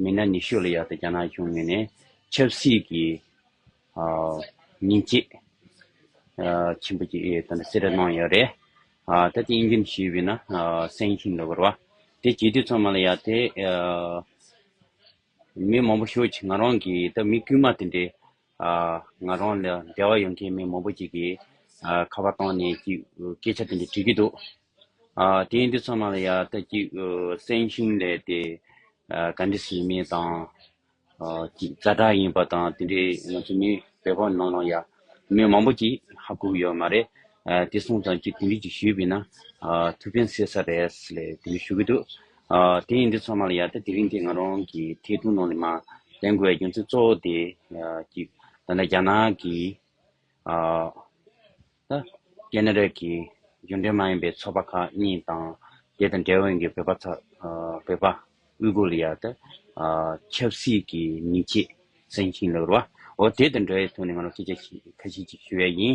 མི་སྣ་ཉི་ཤུ་ལ་ཡག་ཏུ་རྒྱ་ནག་གཞུང་ངོས་ནས་ཆབ་སྲིད་ཀྱི་ཉེན་ཆེད་ཆེན་པོ་ཞིག་ད་ལྟ་སེ་ར་གནང་ཡོད་རེད། ད་ལྟའི་དབྱིན་ཇིའམ་ཞེས་པའི་ན་སེང་ཤིན་ཏུ་འགོར་བ། དེ་བྱེད་དུས་ཚང་མ་ལ་ཡག་དེ། མི་མང་པོ་ཤོད་ཅིག་ང་རང་གིས་ད་མི་དཀྱུས་མ་དེ་འདྲའི་ང་རང་ལ་འབྲེལ་བ་ཡོད་མཁན་མི་མང་པོ་ཅིག་གིས་ཁ་བ་བཏང་ནས་སྐད་ཆ་དེ་འདྲ་དྲིས་ཀྱི་འདུག་དེ་འདི་ཚང་མ་ལ་ཡང་ལྟ་ཅིག་སེང་ཤིང་ལས་དེ་ག་འདྲ་བྱེད་མིན་དང་ག་དྲག་ཡིན་པ་དང་དེ་འདྲའི་ང་ཚོ་མི་བོད་པ་ནང་ལ་ཡང་མི་མང་པོ་ཅིག་ཧ་གོ་གི་ཡོད་མ་རེད་དེ་སོང་ཙང་ཅིག་དེ་འདྲི་ཅིག་ཞུས་པས་ན་ཐུགས་ཕན་སེ་ས་རེད་ལས་དེ་འདྲ་ཞུ་གི་འདུག། དེ་ཡིན་དུས་ཚང་མ་ལ་ཡ་ད་དེ་རིང་དེ་ང་རང་གི་ཐེ་གཏུགས་ནང་ནས་མ་ལེན་དགོས་པའི་རྒྱུ་མཚན་གཙོ་བོ་དེ་གི་ད་ལྟ་རྒྱ་ནག་གི་རྒྱ་ནག་རིགས་ཀྱི་གཞུང་འབྲེལ་མ་ཡིན་པའི་ཚོགས་པ་ཁག་གཉིས་དང་དེ་དང་འབྲེལ་བ་ཡོད་པའི་བོད་པ་ཚ་བོད་པ་དབུས་གོ་ལ་ཡ་ད་ཆབ་སྲིད་ཀྱི་མི་ཆེད་སེང་ཤིང་ལ་རུ་བ་འོ་དེ་དང་འབྲེལ་བའི་ཐོག་ནས་ང་རང་སྐད་ཆ་ཁ་ཤས་ཅིག་ཞུ་ཡ་ཡིན་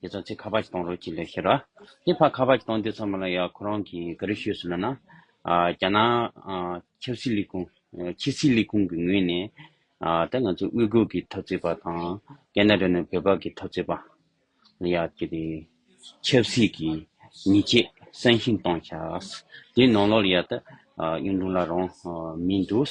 དེ་ཚོ་ཚིག་ཁ་པར་གྱིས་གཏོང་རོགས་གྱིས་ལས་ཤེས་ར། དེ་ཕར་ཁ་པར་གྱིས་གཏོང་དུས་ཚང་མ་ལ་ཡང་ཁོ་རང་གིས་ག་རེ་ཤོད་ཟེར་ལབ་ན། རྒྱ་ནག་ཆབ་སྲིད་ལས་ཁུངས་ཕྱི་སྲིད་ལས་ཁུངས་ཀྱི་ངོས་ནས། ད་ང་ཚོ་དབུས་གོས་ཀྱི་འཐབ་རྩོད་པ་དང། རྒྱ་ནག་རེད་ན་བོད་པ་གི་འཐབ་རྩོད་པ། ལ་ཡང་དེ་རེད། ཆབ་སྲིད་ཀྱི་ཉེས་ཆད་གསང་ཞིང་གཏོང་ཤགས། དེའི་ནང་ལོགས་ལ་ཡང་ད། གཡུང་དྲུང་ལ་རང་མི་འདུག།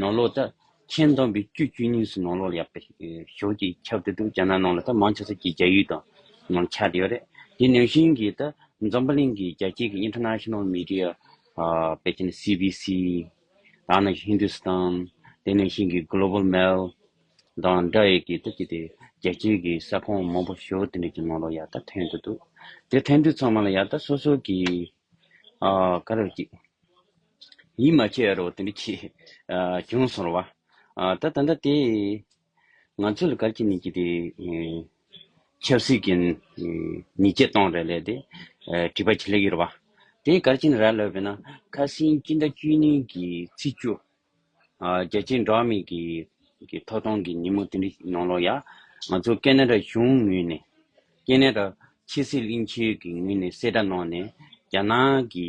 ནོར་ལོག་ད། མཁྱེན་བསྡོམས་པའི་དཀྱུས་དཀྱུས་གཉིས་སུ་ནོར་ལོག་ལ་ཡག་པའི་ཞོར་གྱི་ཁྱབ་འདི་འདུག་རྒྱ་ནག་ནང་ལ་ད་མང་ཆེ་ས་ཀྱི་རྒྱ་ཡུལ་དང་ནང་ཆ་དེ་ཡོད་རེད། དེ་ནང་བཞིན་གྱི་ད་འཛམ་བུ་གླིང་གི་རྒྱ་སྐྱེད་ཀྱི International Media པའི་ཁྱེད་ནི CBC དང་ནང་བཞིན Hindustan དེ་ནང་བཞིན་གྱི Global Mail དང་འདྲ་ཡི་གི་ད་ཀྱི་དེ་རྒྱ་སྐྱེད་ཀྱི་ས་ཁོངས་མང་པོ་ཞོར་དེ་འདྲ་གྱི་ནོར་ལོག་ཡག་ད་ཐོན་དུ་འདུག་དེ་ཐོན་དུས་ཚང་མ་ལ་ཡག་ད་སོ་སོ་གྱི་ཨ་ཀ་རོ་གཅིག། ཡིད་མ་ཆེས་རོགས་དེ་འདྲ་ཁྱེད། གྱོང་སོང་རོགས། ད་ད་ད་དེ། ང་ཚོ་ལ་གར་གྱི་ནི་གྱི་དེ། ཆབ་སྲིད་ཀྱི། ཉིས་བརྒྱ་སྟོང་རེ་ལས་དེ། བྲིས་པ་ཆེ་ལེགས་ཡོད་རོགས། དེ་གར་གྱི་ནི་ར་ལོས་པས་ན། ཁ་སིང་སྤྱི་ཟླ་བཅུ་གཉིས་ཀྱི་ཚེས་བཅུ། རྒྱལ་སྤྱིའི་འགྲོ་བ་མི་གི། ཐོག་སྟོང་གི་ཉིན་མོ་དེ་འདྲ་ནང་ལོགས་ཡ། ང་ཚོ་ཀེ་ནེ་ར་གཞུང་ངོས་ནས། ཀེ་ནེ་ར། ཕྱི་སྲིད་གླིང་ཆེན་གྱི་ངོས་ནས་གསལ་བསྒྲགས་གནང་ནས། རྒྱ་ནག་གི།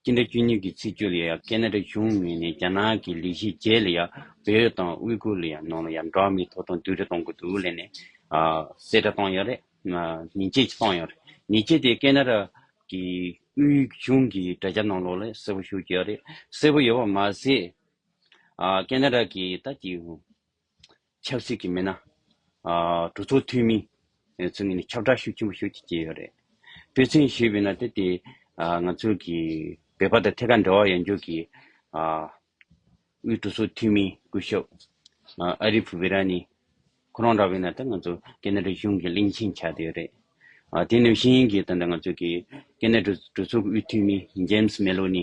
སྤྱི་ཟླ་བཅུ་གཉིས་ཀྱི་ཚེས་བཅུ་ལ་ཡང་ཀེ་ན་ཏྲ་གཞུང་མིང་ནས་རྒྱ་ནག་གི་ལི་ཞི་ཅེ་ལ་ཡང་བོད་དང་དབུས་ཁུལ་ལ་ཡང་ནང་ལ་ཡང་འགྲོ་བ་མིའི་ཐོབ་ཐང་བསྡུ་རེ་གཏོང་གི་འདུག་ལན་ནས་གསལ་བསྒྲགས་བཏང་ཡོད་རེད། ཉིན་བྱེད་ཀྱིས་བཏང་ཡོད་རེད། ཉིན་བྱེད་དེ་ཀེ་ན་ཏྲ་གི་དབུས་གཞུང་གི་དྲ་རྒྱ་ནང་ལོགས་ལ་གསལ་བོ་ཞུ་གི་ཡོད་རེད། གསལ་བོ་ཡོད་པ་མ་ཟད། ཀེ་ན་ཏྲ་གི་ད་ཀྱི། ཆབ་སྲིད་ཀྱི་མི་སྣ། གྲོས་ཚོགས་འཐུས་མི། ཚོ་གཉིས་ནས་ཁྱབ་བསྒྲགས་ཤུགས་ཆེན་པོ་ཞུ་ཆེད་ཀྱི་ཡོད་རེད། སྤེལ་ཚན་ཞེས་པའི་ནང་དེ་དེ་ང་ཚོ་གི་བོད་པ་དང་ཐད་ཀར་འབྲེལ་བ་ཡོད་འཇུག་གི་དབུས་གྲོས་ཚོགས་འཐུས་མི་སྐུ་ཞབས་ཨ་རིབ་བྷི་ར་ནི་ཁོ་རང་འདྲ་བའི་ནང་དེ་ང་ཚོ་ཀན་ནེ་རི་གཞུང་གི་གླིང་ཆེན་ཆགས་ཏེ་ཡོད་རེད། དེ་ནི་ཤེས་ཡིན་གྱི་དང་དྲ་ང་ཚོ་གི་ཀན་ནེ་རི་གྲོས་ཚོགས་ཀྱི་དབུས་འཐུས་མི་ཇེམ་སི་མེ་ལོ་ནི་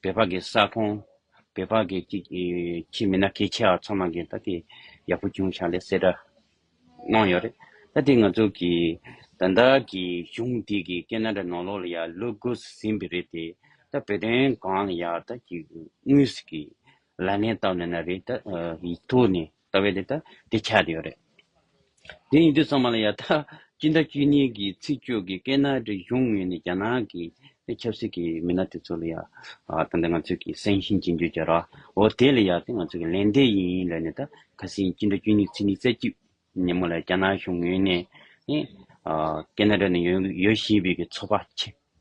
བལ་བག་གི་ས་ཁོང། བལ་བག་གི་ཅིག། ཁྱི་མི་ན་ཁའི་ཆེ་བ་ཚང་མ་གིས་ད་དེ། ཡག་པོ་བྱུང་ཞག་ལས་གསལ་སྒྲ། གནང་ཡོད་རེད། ད་དེ་ང་ཚོ་གི། ད་ལྟ་གི་གཞུང་དེ་གི་སྐད་ན་དྲ་ནོར་ལོག་ལ་ཡ་ལུ་དགོས་སུ་ཟིན་པའི་རེད་དེ། ད་བོད་དོན་གང་ལ་ཡག་ད་ཅིག་དངུལ་སུ་གི། ལ་ནས་བཏབ་ནས་ན་རེད་ད། ཡིག་ཐོག་ནས། ལྟ་བའི་ལས་དང་དེ་ཆགས་ཡོད་རེད། དེ་ཡིན་དུས་ཚང་མ་ལ་ཡང་ད་ཅི་འདྲ་ཅི་ཉེས་ཀྱི་ཚིག་སྤྱོད་ཀྱི་སྐད་ན་རེ་གཞུང་ངོས་ནས་རྒྱ་ནག་གི་ཆབ་སྲིད་ཀྱི་མི་སྣ་དེ་ཚོ་ལ་ཡང་ད་ནི་ང་ཚོས་ཀྱི་སེང་ཤིང་ཅི་འགྱོད་ཀྱི་རོ་འོ་དེ་ལ་ཡང་ད་ང་ཚོས་ཀྱི་ལན་འདེབས་ཡིན་ལོས་ནི་ད་ཁ་སིང་ཅི་འདྲ་ཅི་ཉེས་ཚིག་ནི་རྩད་གཅོད་ཉིན་མོ་ལ་རྒྱ་ནག་གཞུང་ངོས་ནས་ནི་སྐད་ན་རེ་ནི་ཡོད་བཞིན་པའི་ཀྱི་ཚོགས་པ་ཆེ།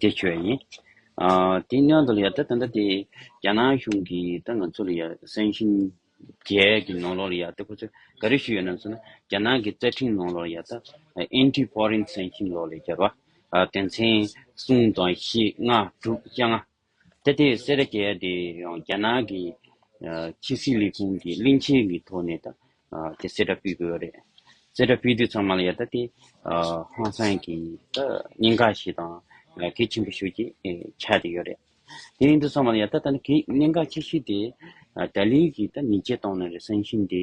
དེ་ཁྱོད་ཡིན། དེ་སྔོན་དུ་ལ་ཡང་ད་ད་དེ་རྒྱ་ནག་གཞུང་གི་ད་ང་ཚོ་ལ་ཡང་སང་ཞིང་རྒྱལ་གྱི་ནང་ལོགས་ལ་ཡང་ད་ཁོ་ཚོ་ག་རེ་ཞུས་ཡོད་ནམ་སོང་ན་རྒྱ་ནག་གི་རྩ་ཁྲིམས་ནང་ལོགས་ལ་ཡང་ད Anti Foreign Sanction Law ལ་ཡང་བསྐྱར་བ། དེ་མཚན་གསུམ་དང་བཞི་ལྔ་དྲུག་བཅོ་ལྔ། ད་ལྟའི་སེ་ར་རྒྱལ་དེ་ཡང་རྒྱ་ནག་གི་ཕྱི་སྲིད་ལས་ཁུངས་ཀྱི་གླིང་ཆེན་གྱི་ཐོག་ནས་དང་དེ་སེ་ར་སྤུད་དགོས་པ་རེད། སེ་ར་སྤུད་དུས་ཚང་མ་ལ་ཡ་ད་དེ་ཧང་སང་གི་སྙིང་ག་ཞིག་དང་གད་ཆེན་པོ་ཞིག་ཆགས་ཏེ་ཡོད་རེད། དེ་ཡིན་དུས་ཚང་མ་ལ་ཡ་ད་ད་ནི་གད་སྙིང་ག་ཆེ་ཤོས་དེ་ད་ལིའི་གིས་ད་མི་བྱེད་གཏོང་ནི་རེད་བསམ་བཞིན་དེ་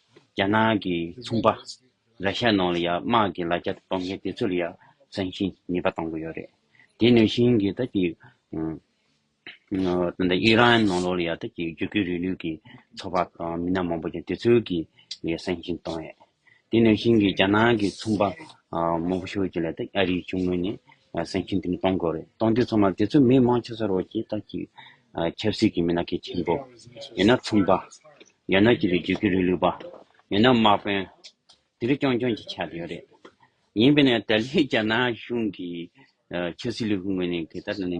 རྒྱ་ནག་གི་ཚོང་པ་ར་ཤ་ནང་ལ་ཡང་དམག་གི་ལ་རྒྱ་གཏོང་མཁན་དེ་ཚོར་ཡང་བསམ་བཞིན་ནུས་པ་གཏོང་གི་ཡོད་རེད། དེ་ནུས་བཞིན་གྱི་ད་ཀྱི་ཨི་རན་ནང་ལོགས་ལ་ཡང་ད་ཀྱི་རྒྱུ་སྐྱེད་རིག་ནུས་ཀྱི་ཚོགས་པ་དང་མི་སྣ་མང་པོ་ཀྱང་དེ་ཚོའི་གི་ལ་བསམ་བཞིན་གཏོང་ཡོད། དེ་ནུས་བཞིན་གྱི་རྒྱ་ནག་གི་ཚོང་པ་མང་པོ་ཤོས་ཀྱི་ལ་ད་ཨ་རིའི་གཞུང་ངོས་ནས་བསམ་བཞིན་དེ་ནི་གཏོང་དགོས་རེད་གཏོང་དུས་ཚང་མ་དེ་ཚོ་མི་མང་ཆེ་ས་རོགས་ཀྱི་ད་ཀྱི་ཆབ་སྲིད་ཀྱི་མི་སྣ་གལ་ཆེན་པོ་ཡིན་ན་ཚོང་པ་ཡང་ན་སྐྱིད་པའི་རྒྱུག་ཁྱི་རུས་ལུས་པ། མིན་ན་དམག་དཔོན། དེ་རིགས་རྐྱང་རྐྱང་གིས་ཆགས་ཡོད་རེད། ཡིན་པས་ན་ཏཱ་ལའི་རྒྱ་ནག་གཞུང་གི་ཆབ་སྲིད་ལས་ཁུངས་ངོས་ནས་དེ་ལྟར་ནི་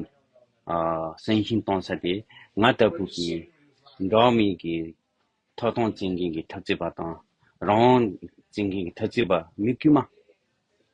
བསམ་བཞིན་གཏོང་ས་དེ་ང་ལྟ་བུ་གྱི་འགྲོ་མིའི་གི་ཐོག་ཐོང་བརྩི་མཁན་གྱི་འཐབ་རྩོད་པ་དང་རང་དབང་བརྩི་མཁན་གྱི་འཐབ་རྩོད་པ་མི་དཀྱུས་མ།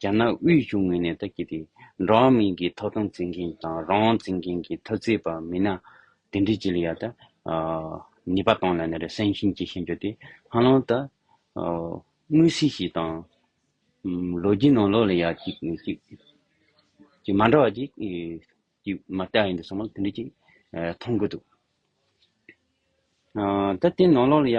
རྒྱ་ནག་དབུས་གཞུང་ངོས་ནས་ད་གིན་དེ་འགྲོ་བ་མིའི་གི་ཐོབ་ཐང་བཙན་གིན་དང་རང་དབང་བཙན་གིན་གི་ཐབས་རྩེད་པ་མིན་ན་དེ་འདྲི་ཅི་ལ་ཡ་ད། ནི་པ་ཏང་ལ་ནི་རེ་སན་ཤིན་ཅི་ཤེས་འཇོག་དེ་ཧ་ལང་ད། དངུལ་སི་ཞིག་དང། ལོ་རྒྱུས་ནང་ལོག་ལ་ཡ་ཅིག་ནི་ཅིག། ཅིག་མ་འདྲ་བ་ཅིག་ཅིག་མ་ལྟ་ཡིན་དུ་སོང་མ་དེ་འདྲི་ཅིག་མཐོང་གི་འདུག། ད་དེ་ནང་ལོག་ལ་ཡ།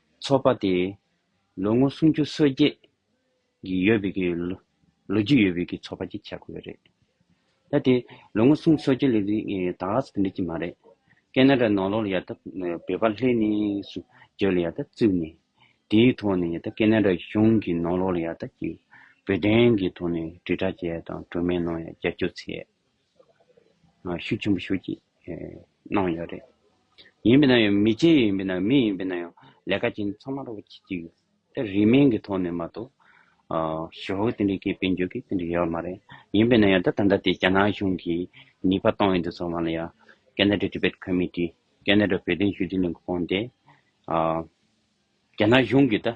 ཚོགས་པ་དེས་ལོ་ངོ་སུམ་ཅུ་སོ་བརྒྱད་ཀྱི་ཡོད་པའི་གི་ལོ་རྒྱུས་ཡོད་པའི་གི་ཚོགས་པ་ཅིག་བྱ་དགོས་རེད། ད་དེ་ལོ་ངོ་སུམ་སོ་བརྒྱད་ལས་རིང་གི་དྭགས་ལགས་སུ་འགྲིག་གི་མ་རེད། ཀན་ན་ར་ནོར་ལོར་ཡ་ད་བོད་པ་ལྷས་ནས་སུ་བརྗོད་ལ་ཡ་ད་བཙུགས་ནས་དེའི་ཐོག་ནས་ཡ་ད་ཀན་ན་ར་གཞུང་གི་ནོར་ལོར་ཡ་ད་ཀྱི་བོད་དོན་གི་ཐོག་ནས་དྲིལ་བསྒྲགས་བྱས་དང་གྲོས་མོལ་གནང་ཡ་རྒྱབ་སྐྱོར་བྱས། ཤུགས་ཆེན་པོ་ཞུགས་ཀྱིས་གནང་ཡོད་རེད། ཡིན་པས་ན་ཡང་མི་སྤྱི་ཡིན་པས་ན་མི་ཡིན་པས་ན་ཡང་ལས་ཀ་ཅན་ཚང་མར་བྱེད་ཀྱི་ཡོད། དེ་རིས་མེད་ཀྱི་ཐོག་ནས་མ་གཏོགས། ཞོགས་ཀྱི་དེ་འདྲའི་སྐད་སྤེལ་འཇུག་གི་དེ་འདྲ་ཡོད་མ་རེད། ཡིན་པས་ན་ཡང་ད་ད་ལྟ་དེ་རྒྱ་ནག་གཞུང་གིས་ནུས་པ་བཏང་ཡོད་འདུག་ཚང་མ་ལ་ཡང། Canada Tibet Committee། Canada བོད་དོན་ཞུ་སྡེ་ནས་གོང་དེ། རྒྱ་ནག་གཞུང་གིས་ད།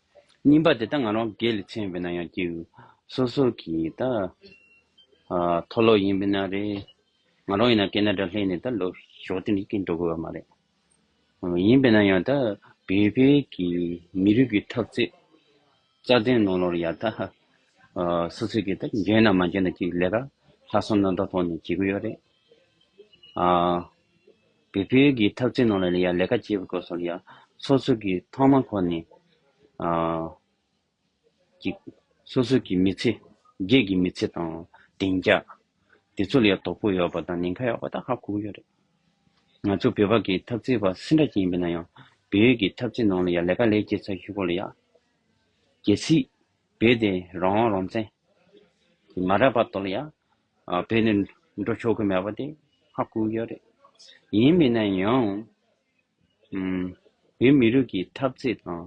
སྙིམ་པ་དེ་ལྟ་ང་རང་སྒེར་ལས་ཚན་བས་ན་ཡང་སྐྱེ་བོ་སོ་སོ་གི་ད་མཐོ་ལོག་ཡིན་པས་ན་རེད་ང་རང་ཡིན་ན་ཀེ་ན་ཏྲ་ལྷས་ནས་ད་ལོ་ཞོག་དེ་ནི་ཀིན་འགྲོ་དགོས་བ་མ་རེད་ཡིན་པས་ན་ཡང་ད་བལ་བལ་གི་མི་རིགས་ཀྱི་ཐབས་རྩེ་རྩ་དོན་ནང་ལོར་ཡང་ད་སོ་སོ་གི་ད་འཇོན་ན་མ་འཇོན་ན་ཅིག་ལས་ཀ་ལྷག་སོང་ན་ད་ཐོག་ནས་བྱེད་དགོས་ཡོད་རེད་ཨ། བོད་ཁུལ་གྱི་འཐབ་རྩོད་ནང་ལ་ཡང་ལས་ཀ་བྱེད་པའི་སྐོར་སོགས་ལ་ཡང་སོ་སོ་གི་ཐོག་མ་ཁོ་ནས་ཀྱི་སོ་སོ་གི་མི་ཚེ་སྒེར་གྱི་མི་ཚེ་དང་བདེ་འཇགས་དེ་ཚོ་ལ་ཡང་དོ་ཕོག་ཡོད་པ་དང་ནན་ཁ་ཡོད་པ་ད་ཧ་གོ་གི་ཡོད་རེད། ང་ཚོ་བོད་པ་གི་འཐབ་རྩོད་པ་སེ་འདྲ་ཅིག་ཡིན་པས་ན་ཡང་བོད་ཀྱི་འཐབ་རྩོད་ནང་ལ་ཡང་ལས་ཀ་ལས་བྱེད་ཚ་ཞུ་སྐོར་ལ་ཡང་གལ་སྲིད་བོད་དེ་རང་དབང་རང་བཙན་གྱི་མ་རག་པ་དོར་ལ་ཡང་བོད་ནས་འགྲོ་ཆོག་གི་མེད་པ་དེ་ཧ་གོ་གི་རེད། ཡིན་མིན་ན་ཡང། བོད་མི་རིགས་ཀྱི་འཐབ་རྩོད་དང་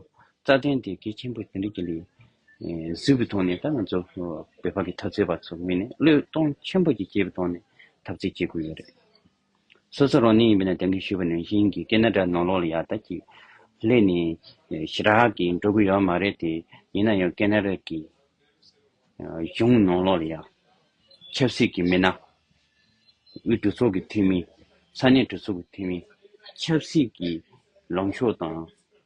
རྩ་དོན་དེ་གལ་ཆེན་པོ་དེ་འདྲ་གི་ལས་གཟིགས་པའི་ཐོག་ནས་ད་ང་ཚོ་བོད་པ་ཀྱི་འཐབ་རྩོད་པ་ཚོ་ངོས་ནས་བློས་གཏོང་ཆེན་པོ་ཀྱི་བྱེད་པའི་ཐོག་ནས་འཐབ་རྩོད་བྱེད་དགོས་ཀྱི་རེད། སོ་སོ་རང་གནས་ཡིན་པས་ན་དེང་གི་བཞུགས་པ་ནང་བཞིན་གྱི་སྐད་སྣ་སྒྲ་ནོར་ལོག་ལ་ཡར་ལྟ་གྱིས། སླད་ནས་ཞི་རགས་ཀྱིས་འགྲོ་དགོས་ཡོད་མ་རེད་དེ། ཡིན་ན་ཡང་སྐད་སྣ་རེད་ཀྱི། གཞུང་ནོར་ལོག་ལ་ཡར། ཆབ་སྲིད་ཀྱི་མི་སྣ། དབུས་གྲོས་ཚོགས་ཀྱི་འཐུས་མི། ས་གནས་གྲོས་ཚོགས་ཀྱི་འཐུས་མི། ཆབ་སྲིད་ཀྱི་ལངས་ཕྱོགས་དང།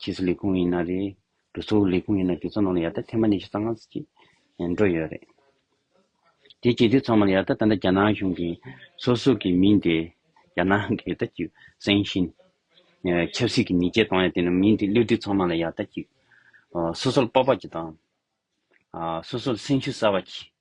ཕྱིས་སུ་ལས་ཁུངས་ཡིན་ན་རེད། འགྲོ་ཚུགས་ལས་ཁུངས་ཡིན་ན་དེ་ཚོ་ནང་ལ་ཡར་ལྟ་ཐེངས་མ་ཉི་ཤུ་རྩ་ལྔ་ཅིག་འགྲོ་ཡོད་རེད། དེ་བྱེད་དུས་ཚང་མ་ལ་ཡར་ལྟ་ད་ལྟ་རྒྱ་ནག་གཞུང་གི་སོ་སོ་གི་མིང་དེ་རྒྱ་ནག་གི་ལྟ་ཅིག་སེང་ཤིན། ཆབ་སྲིད་ཀྱི་ཉེས་ཆད་གཏོང་ཡ་དེ་ནི་མིང་དེ་གློད་དུས་ཚང་མ་ལ་ཡར་ལྟ་ཅིག་སོ་སོར་དཔའ་དཔའ་ཅིག་དང། སོ་སོར་སེང་ཤུ་གསར་བ་ཅིག་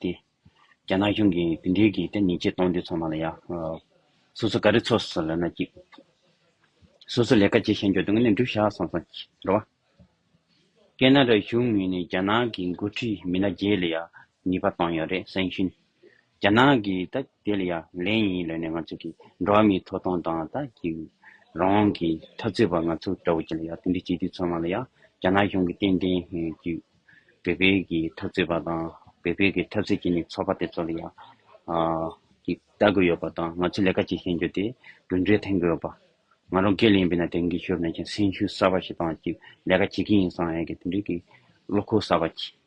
ཏེ། རྒྱ་ནག་གཞུང་གིས་དེ་འབྲེལ་གྱི་ཐེངས་ཉིས་བརྒྱ་སྟོང་བདུན་ཚང་མ་ལ་ཡང། སོ་སོ་ག་རེ་ཚོགས་སུ་ལོན་ན་གཅིག། སོ་སོ་ལས་ཀ་བྱེད་ཤེས་འཇོག་དོན་གནས་འགྲུབ་བྱ་སོང་སོང་རེད་བ། ཀེ་ནཱ་ར་གཞུང་ངོས་ནས་རྒྱ་ནག་གི་འགོ་ཁྲིད་མི་སྣ་བརྒྱད་ལ་ཡང་ནུས་པ་བཏང་ཡོད་རེད་གསན་ཞིང། རྒྱ་ནག་གིས་ད་དེ་ལ་ཡ་ལན་ཡིན་ལོས་ནས་ང་ཚོ་གི་འགྲོ་བ་མིའི་མཐོ་གཏོང་དང་ད་གི་རང་དབང་གི་འཐབ་རྩོད་པ་ང་ཚོ་འདྲ་བོ་གི་ལ་ཡ་དེ་འདྲའི་སྤྱི་འཐུས་ཚོ་ང་ལ་ཡ་རྒྱ་ནག་གཞུང་གི་ཏན་ཏན་གི་བོད་པའི་གི་འཐབ་རྩོད་པ་དང་བོད་པའི་གི་འཐབ་རྩོད་གི་ནི་ཚོགས་པ་དེ་ཚོ་ལ་ཡ་གི་ལྟ་དགོས་ཡོད་པ་དང་ང་ཚོ་ལས་ཀ་བྱེད་ཤེས་རྒྱུ་དེ་དུད་འགྲོའི་ཐན་དགོས་ཡོད་པ་ང་རང་སྐད་ལས་ཡིན་པས་ན་དེང་གི་ཞོར་ན་ཀྱང་སེམས་ཤུགས་གསར་པ་ཞིག་དང་གི་ལས་ཀ་བྱེད་གི་ཡིན་སང་ཡ་གི་དེ་འདྲའི་གི་བློ་ཁོག་གསར་པ་གྱིས།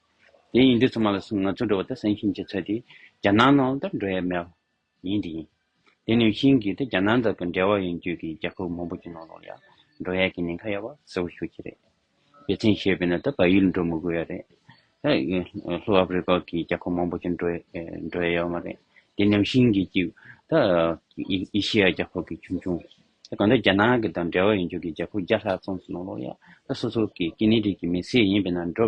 དེ་ཡིན་དུས་ཚང་མ་ལ་སུ་ང་ཚོ་འགྲོ་བ་དང་སེང་ཤིང་གཅིག་ཚོད་དེ་རྒྱ་ནག་ནང་དུ་འགྲོ་ཡས་མེད་པ་ཡིན་དེ་ཡིན། དེ་ནི་ཤིང་གི་དེ་རྒྱ་ནག་དག་གི་འབྲེལ་བ་ཡིན་དུས་ཀྱི་རྒྱ་ཁབ་མང་པོ་ཀྱི་ནང་ལོག་ཡ་འགྲོ་ཡས་ཀྱི་ཉེན་ཁ་ཡོད་པ་གསལ་བོ་ཤོད་ཀྱི་རེད། རྒྱལ་མཚན་ཞེས་པའི་ནང་དུ་བལ་ཡུལ་འགྲོ་མི་དགོས་ཡ་རེད། ལྷོ་ཨ་ཕི་རི་ཀ་གི་རྒྱ་ཁབ་མང་པོ་ཀྱི་འགྲོ་འགྲོ་ཡས་ཡོད་མ་རེད། དེ་ནི་ཤིང་གི་གཅིག་ད་ཨེ་ཤི་ཡ་རྒྱ་ཁབ་ཀྱི་ཆུང་ཆུང། དེ་གང་ལྟར་རྒྱ་ནག་གི་དང་འབྲེལ་བ་ཡིན་དུས་ཀྱི་རྒྱ་ཁབ་བརྒྱ་ལྷག་ཙམ་ཞིག་ནང་ལོག་ཡ་ད་སོ་སོ་ཀྱི་སྐྱེ་གནས་རིགས་ཀྱི་མི་སེར་ཡིན་པའི་ནང་འགྲོ་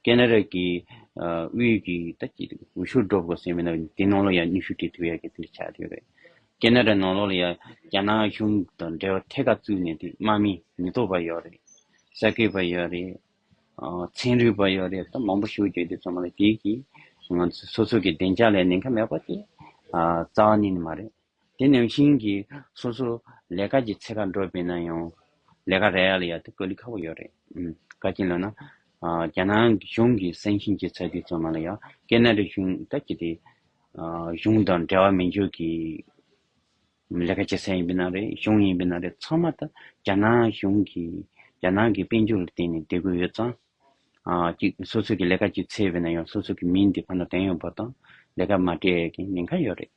སྐད་ནག་རག་གི་དབུས་ཀྱི་ད་ཀྱི་འོད་ཤུགས་སྒྲོབ་དགོས་སེམས་མེད་ན་དེ་ནང་ལོགས་ཡ་ནུས་ཤུགས་དེ་ཐུབ་ཡ་གི་དེ་འདྲ་ཆགས་ཡོད་རེད་སྐད་ནག་རག་ནང་ལོགས་ལ་ཡ་རྒྱ་ནག་གཞུང་དང་འབྲེལ་བ་ཐད་ཀར་བཙུགས་ནས་དེ་དམག་མི་མི་ཐོབ་པ་ཡོད་རེད་ས་ཁེ་པ་ཡོད་རེད་ཚན་རིག་པ་ཡོད་རེད་ད་མང་པོ་ཤུགས་རྒྱོས་དེ་ཚོ་མ་ལ་གྱིས་གྱིས་ང་ཚོ་སོ་སོ་གི་བདེ་འཇགས་ལ་ནན་ཁ་མེད་པ་དེ་རྩ་བ་ནས་ནི་མ་རེད། དེ་ནང་བཞིན་གྱི་སོ་སོ་ལས་ཀ་གྱི་ཚེ་ཁ་འགྲོ་པས་ན་ཡང་ལས་ཀ་རེ་ཡག་ལ་ཡག་དེ་གོ་ལི་ཁ་བོ་ཡོད་རེད་ག་རྐྱེན་ལ་ན་རྒྱ་ནང་གཞུང་གི་སང་ཞིང་གྱི་ཚ་དུས་ཚང་མ་ལ་ཡ་ཀེ་ན་རི་གཞུང་ད་གྱི་དེ་གཞུང་དང་འབྲེལ་བ་མི་འཇུག་གི་ལས་ཀ་བྱེད་ས་ཡིན་པས་ན་རེད་གཞུང་ཡིན་པས་ན་རེད་ཚང་མ་ད་རྒྱ་ནང་གཞུང་གི་རྒྱ་ནང་གི་དཔལ་འབྱོར་ལ་བརྟེན་ནས་བསྡད་གོ་ཡོད་ཙང་གཅིག་སོ་སོ་གྱི་ལས་ཀ་གྱི་ཚེ་བས་ན་ཡང་སོ་སོ་གྱི་མིང་དེ་ཕ་ན་དེང་ཡོང་བ་དང་ལས་ཀ་མ་སྤྲད་ཀྱིན་ཉེན་ཁ་ཡོད་རེད།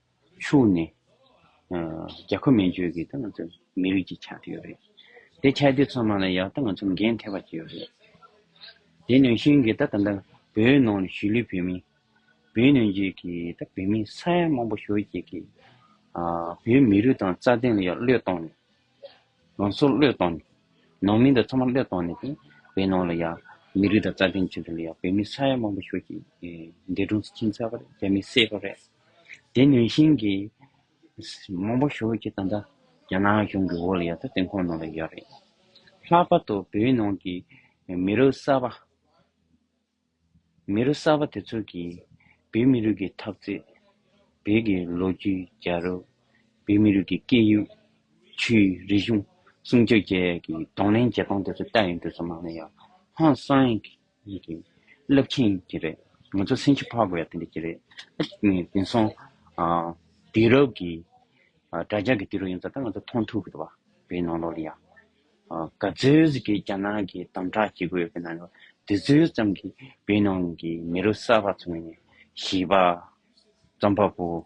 ཕྱུག་ནི། རྒྱ་ཁོ་མན་བཅོས་ཀྱི་ཏང་ཙུའུ་མི་རིགས་ཀྱི་ཆ་དེ་ཡོད་རེད། དེ་ཆ་དེ་ཚོ་ནང་ལ་ཡག་ཏང་ཙུའུ་འགན་ཐེ་བ་ཅི་ཡོད་རེད། དེ་ནང་བཞིན་གྱི་ད་ད་ལྟ་བོད་ནང་ལ་ཞི་ལུའི་བོད་མི། བོད་ནང་བཅས་ཀྱི་ད་བོད་མི་ས་ཡ་མང་པོ་ཞོལ་གྱི་གི། བོད་མི་རིགས་དང་རྩ་དོན་ལ་ཡང་བློས་བཏང་ནས། ང་ཚོ་བློས་བཏང་ནས། ནང་མི་དང་ཚང་མ་བློས་བཏང་ནས་དེ་བོད་ནང་ལ་ཡང་མི་རིགས་དང་རྩ་དོན་ཆེད་དུ་ལ་ཡང་བོད་མི་ས་ཡ་མང་པོ་ཞོལ་གྱི་འདས་གྲོངས་སུ་ཕྱིན་ཚར་བ་རེད་རྒྱ་མི་བསད་པ་རེད། དེ་ནུས་བཞིན་གྱིས། མང་པོ་ཞུ་ཅི་ད་ལྟ། རྒྱ་ནག་གཞུང་གི་འོག་ལ་ཡོད་ད་ཏིང་ཁོང་ནང་ལ་ཡོད་རེད། ལྷག་པར་དུ་བོད་ནང་གི་མི་རུ་གསར་པ། མི་རུ་གསར་པ་དེ་ཚོ་གིས། བོད་མི་རིགས་ཀྱི་ཐབས་རྩལ། བོད་ཀྱི་ལོ་རྒྱུས་རྒྱ་རུ། བོད་མི་རིགས་ཀྱི་སྐད་ཡིག། ཆོས་རིག་གཞུང་སྲུང་བཅོས་བཅས་ཀྱི་གདོང་ལེན་བྱེད་སྟངས་དེ་ཚོ་ལྟ་ཡི་འགྲོས་ཚོ་ནང་ལ་ཡོད། ཧང་སང། ཡིན་གྱི། རླབས་མཁྱེན་ཡིན་གྱི་རེད། ང་ཚོ་སེམས་ཤུགས་འཕར་དགོས་ཡ་དེ་འདྲ་གྱི་རེད། དེང་སང། དུས་རབས་ཀྱི། དྲྭ་རྒྱ་གི་དུས་རབས་ཡིན་ཙང་ད་ང་ཚོ་མཐོང་ཐུབ་གི། བའི་ནང་ལོགས་ལ་ཡ། ག་ཚོད་ཀྱི་རྒྱ་ནག་གི་དམ་དྲག་བྱེད་དགོས་པའི་ནང་ལོགས་ལ་དེ་ཚོད་ཙམ་གྱི་བའི་ནང་གི་མི་རུ་གསར་བ་ཚོ་ནི། བྱིས་པ། རྩོམ་པ་པོ།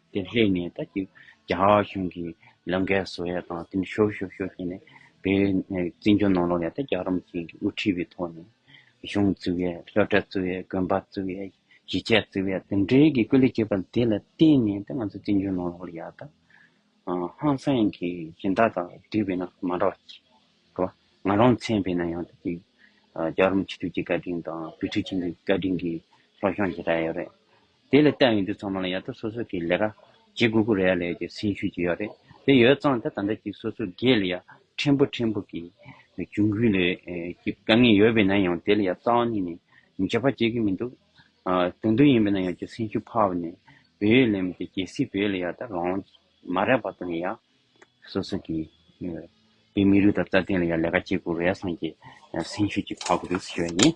དེ་སླེབས་ནས་ད་ཅིག་རྒྱ་གཞུང་གི་ལམ་ཁའི་བཟོ་ཡ་དང་དེ་ནས་ཤོར་ཤོར་ཤོར་བྱས་ནས་བོད་བཙན་བྱོལ་ནང་ལོགས་ནས་ད་རྒྱ་རོམ་ཅན་གྱི་དབུ་ཁྲིད་པའི་ཐོག་ནས་གཞུང་བཙུགས་ཡས་ལྷོ་བྲག་བཙུགས་ཡས་དགོན་པ་བཙུགས་ཡས་གཞིས་ཆགས་བཙུགས་ཡས་དེ་འདྲའི་གི་སྐུ་ལས་བྱེད་པ་དེ་ལ་བརྟེན་ནས་ད་ང་ཚོ་བཙན་བྱོལ་ནང་ལོགས་ལ་ཡ་ད་ཧང་སངས་ཀྱི་སྦྱིན་བདག་དང་བསྡུས་པས་ན་མ་འགྲོ་ཅིག་གོ་བ་ང་རང་མཚན་བས་ན་ཡང་ད་ཅིག་རྒྱ་རོམ་སྤྱི་འཐུས་ཀྱི་བཀའ་དྲིན་དང་བུ་ཕྲུག་ཆེན་པོའི་བཀའ་དྲིན་གྱིས་ལྷོ་གཞོང་གི་ར་ཡོད་རེད། དེ་ལས་བལྟས་ཡོང་དུས་ཚང་མ་ལ་ཡག་ཐབས་སོ་སོ་གི་ལས་ཀ་ཇི་དགོས་དགོས་རེད་ཡ་ལས་ཀྱི་སེམས་ཤུགས་ཀྱི་ཡོད་རེད་དེ་ཡོད་ཙང་ད་ད་འདྲ་གཅིག་སོ་སོ་སྒེར་ལ་ཡ་ཕྲན་བུ་ཕྲན་བུ་གི་གྱོང་གུན་ལས་ཀྱི་དཀའ་ངལ་ཡོད་པས་ན་ཡང་དེ་ལ་ཡ་རྩ་བ་ནས་ནས་མི་བྱེད་པ་བྱེད་ཀྱི་མི་འདུག་དོན་དུ་ཡིན་པས་ན་ཡ་ཀྱི་སེམས་ཤུགས་འཕར་བ་ནས་བོད་ཡིག་ལས་མི་དེ་གལ་སྲིད་བོད་ལ་ཡ་ད་རང་མ་རེད་པ་དང་ཡ་སོ་སོ་གི་བོད་མི་རིགས་དང་རྩ་དོན་ལ་ཡ་ལས་ཀ་ཇི་དགོས་རེད་སངས་ཀྱི་སེམས་ཤུགས་ཀྱི་འཕར་དགོས་རེད་ཟེར་བ་ཡིན།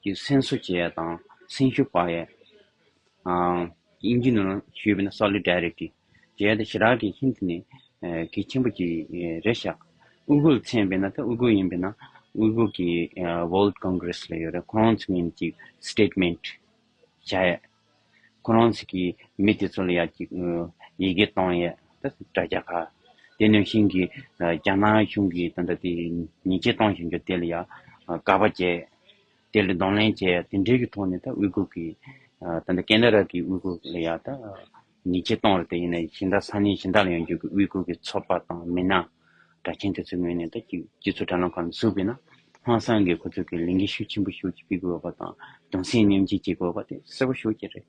ཀྱི་སེམས་གསོ་བྱེད་ཡས་དང་སེམས་ཤུགས་སྤར་ཡས། དབྱིན་ཇི་ནང་ཞུས་པས་ན Solidarity། བྱེད་ཡས་ཏེ་ཞི་རགས་ཀྱི་ཧིན་དྷི་ནི་གལ་ཆེན་པོ་ཅིག་རེད་ཤག། དབུས་གུར་མཚན་པས་ན་ཏེ་དབུས་གུར་ཡིན་པས་ན་དབུས་གུར་གྱི World Congress ལ་ཡོད་རེད་ཁོང་རང་ཚོ་ནས་ཅིག Statement བྱ་ཡས། ཁོ་རང་ཚོ་གིས་མི་དེ་ཚོ་ལ་ཡག་གི་ཡི་གེ་བཏང་ཡས་ད་དྲ་རྒྱ་ཁ། དེ་ནས་བཞིན་གི་རྒྱ་ནག་གཞུང་གིས་ད་ད་དེ་ཉེས་ཆད་བཏང་བཞིན་འགྱོ་དེ་ལ་ཡག་དགའ་བ་བྱས། དེ་ལ་གདོང་ལེན་བྱས་ཡས་དེ་འདྲའི་གི་ཐོག་ནས་ད་དབུས་གུར་གི་ད་ད་ཀན་ད་ར་གི་དབུས་གུར་ལ་ཡག་ད། ཉིས་བརྒྱད་སྟོང་རེ་དེ་ཡིན་ན་ཤིང་རྟ་ས་གནས་ཤིང་རྟ་ལ་ཡང་རྒྱུག་གི་དབུས་ཁུལ་གྱི་ཚོ་པ་དང་མི་སྣ་གྲ་མཁན་དེ་ཚོའི་ངོས་ནས་ད་ཀྱི་སྤྱི་ཚོགས་དྲ་ལམ་ཁག་ལ་གཟུགས་བས་ན་ཧང་སང་གིས་ཁོ་ཚོ་གི་ལས་འགན་ཤུགས་ཆེན་པོ་ཤུགས་ཀྱིས་སྤེལ་དགོས་བ་དང་གདུང་སེམས་མཉམ་བསྐྱེད་བྱེད་དགོས་བ་དེ་གསལ་བོ་ཤོར་གྱི་རེད།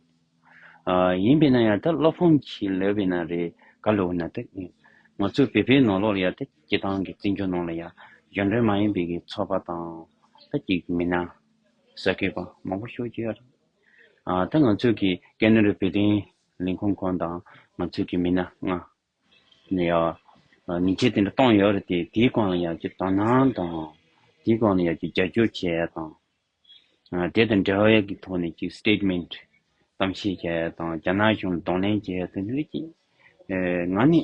ཡིན་པས་ན་ཡང་ད་བློ་ཕམ་གྱིས་ལོས་བས་ན་རེ་དགའ་ལོས་བས་ན་ད་ཀྱི་ང་ཚོ་བོད་པའི་ནོར་ལོག་ལ་ཡང་ད་ཀྱི་ཏང་གི་བརྩི་འཇོག་ནང་ལ་ཡང་གཞོན་དྲུང་མ་ཡིན་པའི་གི་ཚོ་པ་དང་ད་ཀྱི་མི་སྣ་ཟ་གི་བ་མང་བོ་ཤོར་གྱི་ཡ་རེད། ད་ང་ཚོས་ཀྱི་ཀན་ནོ་རི་བོད་དོན་ལས་ཁུངས་ཁོང་དང་ང་ཚོས་ཀྱི་མི་སྣ་ལྔ། ནས་ཡང་ཉིན་བྱེད་དེ་འདྲ་གཏོང་ཡོད་རེད་དེ་དེའི་སྐོར་ལ་ཡང་ཀྱི་དོ་སྣང་དང། དེའི་སྐོར་ལ་ཡང་ཀྱི་རྒྱབ་སྐྱོར་བྱས་ཡོད་དང། དེ་དང་འབྲེལ་བའི་ཀྱི་ཐོག་ནས་ཀྱི Statement གཏམ་བཤད་བྱས་ཡོད་དང་རྒྱ་ནག་གཞུང་ལ་གདོང་ལེན་བྱས་ཡོད་དེ་འདྲ་རེད་ཀྱི། ང་ནི།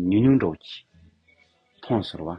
ཉུང་ཉུང་འགྲོགས་ཀྱི། མཐོང་ཟོར་བ།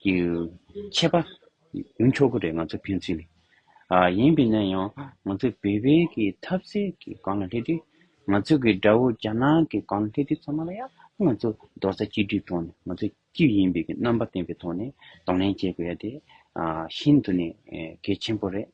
ཀྱི་ཆད་པ་ཡོང་ཆོག་གི་རེད་ང་ཚོ་ཕན་ཚུན་ལས། ཡིན་པས་ན་ཡང་ང་ཚོ་བོད་པའི་གི་འཐབ་རྩོད་ཀྱི་སྒང་ལ་སླེབས་དུས་ང་ཚོ་གི་དགྲ་བོ་རྒྱ་ནག་གི་སྒང་ལ་སླེབས་དུས་ཚང་མ་ལ་ཡང་ང་ཚོ་རྡོག་རྩ་གཅིག་སྒྲིལ་ཐོག་ནས་ང་ཚོ་སྐྱིད་ཡིན་པའི་གི་རྣམ་པ་བསྟན་པའི་ཐོག་ནས་གདོང་ལེན་བྱེད་དགོས་ཡ་དེ་ཤིན་ཏུ་ནས་གལ་ཆེན་པོ་རེད།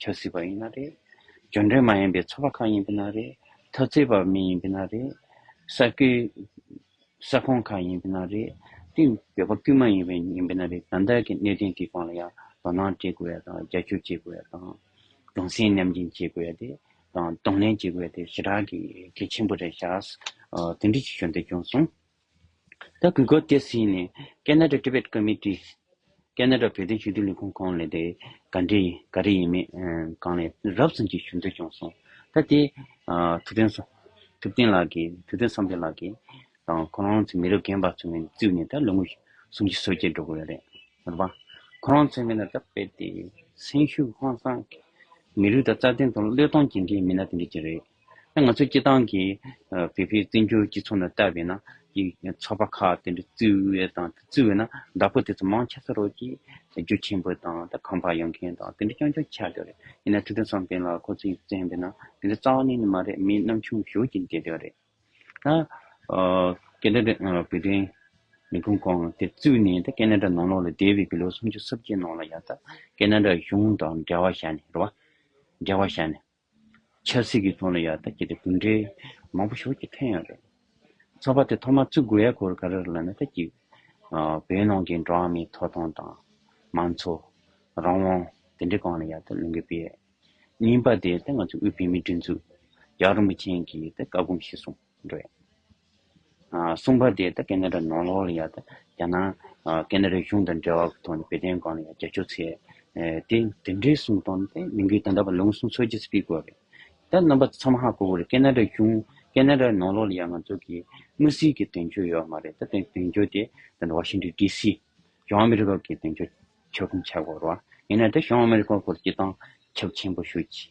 ཆོད་སྲིད་པ་ཡིན་ན་རེད། གྱོད་འབྲེལ་མ་ཡིན་པའི་ཚོ་པ་ཁག་ཡིན་པས་ན་རེད། མཐོ་བརྩེགས་པ་མི་ཡིན་པས་ན་རེད། ས་ཁུལ་ས་ཁོངས་ཁག་ཡིན་པས་ན་རེད། དེ་འགྱོད་པ་ཀུན་མ་ཡིན་པས་ཡིན་པས་ན་རེད། ད་ལྟའི་གི་གནད་དོན་གི་སྐོང་ལ་ཡང་དོ་སྣང་བྱེད་དགོས་ཡ་དང་རྒྱ་ཁྱོད་བྱེད་དགོས་ཡ་དང། དུང་སེང་ནམ་རྒྱིན་བྱེད་དགོས་ཡ་དེ། དང་དུང་ལེན་བྱེད་དགོས་ཡ་དེ་ཞེ་དྲག་གི་གལ་ཆེན་པོ་རེད་ཤགས། དེ་འདྲི་གི་ཞོན་དེ་བྱུང་སོང། ད་གུས་བཀུར་སྐྱེད་སྲིང་ནས Canada Tibet Committee། Canada བོད་དོན་ཞུ་གཏུག་ལས་ཁུངས་གང་ལས་དེ་ག་འདྲེ་ཡིན་ག་རེ་ཡིན་མིན་གང་ལས་རབ་གསུངས་ཀྱི་ཞུ་འདོད་བྱུང་སོང་ད་དེ་ཐུབ་བསྟན་ས་ཐུབ་བསྟན་ལགས་ཀྱིས་ཐུབ་བསྟན་བསམ་འཕེལ་ལགས་ཀྱིས་དང་ཁོ་རང་ཚོའི་མི་རབས་རྒན་པ་ཚོ་ནས་བཙུད་ནས་ད་ལོ་ངོ་གསུམ་གྱི་སྲོལ་སྐྱེལ་འགྲོ་གི་ཡོད་རེད་མོད་པ་ཁོ་རང་ཚོའི་མི་ལ་ད་དཔེ་དེ་སེང་ཤུག་ཧང་སང་མི་ལུས་ད་རྩ་དོན་དང་བློས་གཏོང་ཇི་འདྲའི་མི་སྣ་དེ་འདྲ་གྱི་རེད། ང་ཚོའི་སྐྱིད་ཐང་གི་བོད་ཕའི་བཙན་བྱོལ་སྤྱི་ཚོགས་ནང་བལྟ་བས་ན། ཡིག་ཚོགས་པ་ཁག་དེ་འདྲ་བརྩི་བས་དང་བརྩི་བས་ན་བདག་པོ་དེ་ཚོ་མང་ཆེ་ས་རོགས་ཀྱིས་རྒྱུ་ཆེན་པོ་དང་ད་ཁང་པར་ཡོང་མཁན་དང་དེ་འདྲ་རྐྱང་རྐྱང་ཆགས་ཀྱི་རེད། ཡིན་ན་ཕྲུ་གྲོན་བསམ་གཏན་ལགས་ཁོ་ཚོས་ཡིག་བཙན་པས་ན་དེ་འདྲ་རྩ་བ་ནས་ནི་མ་རེད་མི་རྣམ་ཆུང་ཞོར་གྱིས་འདྲེ་འདྲ་རེད། ད་ཀན་ན་ཀྲ་བོད་དོན་ལས་ཁུངས་ཁང་དེ་བཙུགས་ནས་ད་ཀན་ན་ཀྲ་ནང་ལོགས་ལ་བསྡད་བས་ཀྱི་ལོ་སུམ་ཅུ་སོ་བརྒྱད་ནང་ལ་ཡང་ད་ཀན་ན་ཀྲ་གཞུང་དང་འབྲེལ་བ་བྱས་ནས་རེད་བ། འབྲེལ་བ་བྱས་ནས། ཆབ་སྲིད་ཀྱི་ཐོག་ལ་ཡག་ཐབས་བྱས་ཏེ་གྲུབ་འབྲས་མང་པོ་ཞོར་གྱི་ཐོན་ཡོད་རེད། ཚོགས་པ་དེ་ཐོག་མར་བཙུགས་དགོས་ཡ་སྐོར་ག་རེར་ལ་ན་ཐ་གྱིས། བོད་ནང་གི་འགྲོ་བ་མིའི་ཐོབ་ཐང་དང། མང་གཙོ། རང་དབང། དེ་འདྲའི་སྐོར་ལ་ཡག་ཐབས་གླེང་གི་དཔེ། རྙིང་པ་དེ་ད་ང་ཚོའི་དབུས་བོད་མིའི་སྒྲིག་འཛུགས། རྒྱ་རིན་པོ་ཆེན་གྱིས་ད་བཀའ་སྒོམ་ཤེས་སོང། འདོད། གསུངས་པ་དེ་ཀན་ནེ་ར་ནོར་ལྷོ་ལ་ཡང་རྒྱ་ནག་ཀན་ནེ་ར་གཞུང་དང་འབྲེལ་བ་ཐོག་ནས་བོད་དོན་སྐོར་ལ་ཡང་རྒྱབ་སྐྱོར་ཚད། དེ་དེ་འདྲའི་གསུངས་དོན་དེ་མི་འགུལ་ད་ལྟ་བར་ལུང་གསུང་ཚོད་ཀྱིས་སྤེལ་དགོས་རེད། ད་རྣམ་པ་ཚང་མ་ཧ་གོ་གི་རེད་ཀན་ནེ་ར་གཞུང་ཀན་ནེ་ར་ནོར་ལྷོ་ལ་ཡང་ང་ཚོ་གི་དངུལ་སིལ་གྱི་དོན་གཅོད་ཡོད་མ་རེད་ད་དེ་དོན་གཅོད་དེ་ད་ནི Washington DC གཞུང་ཨ་མི་རི་ཀ་གི་དོན་གཅོད་བྱེད་ཁོམ་ཆགས་དགོས་རེད། ཡིན་ན་ད་གཞུང་ཨ་མི་རི་ཀ་སྐོར་སྤྱི་སྟངས་ཁྱབ་ཆེན་པོ་ཞུ་གི་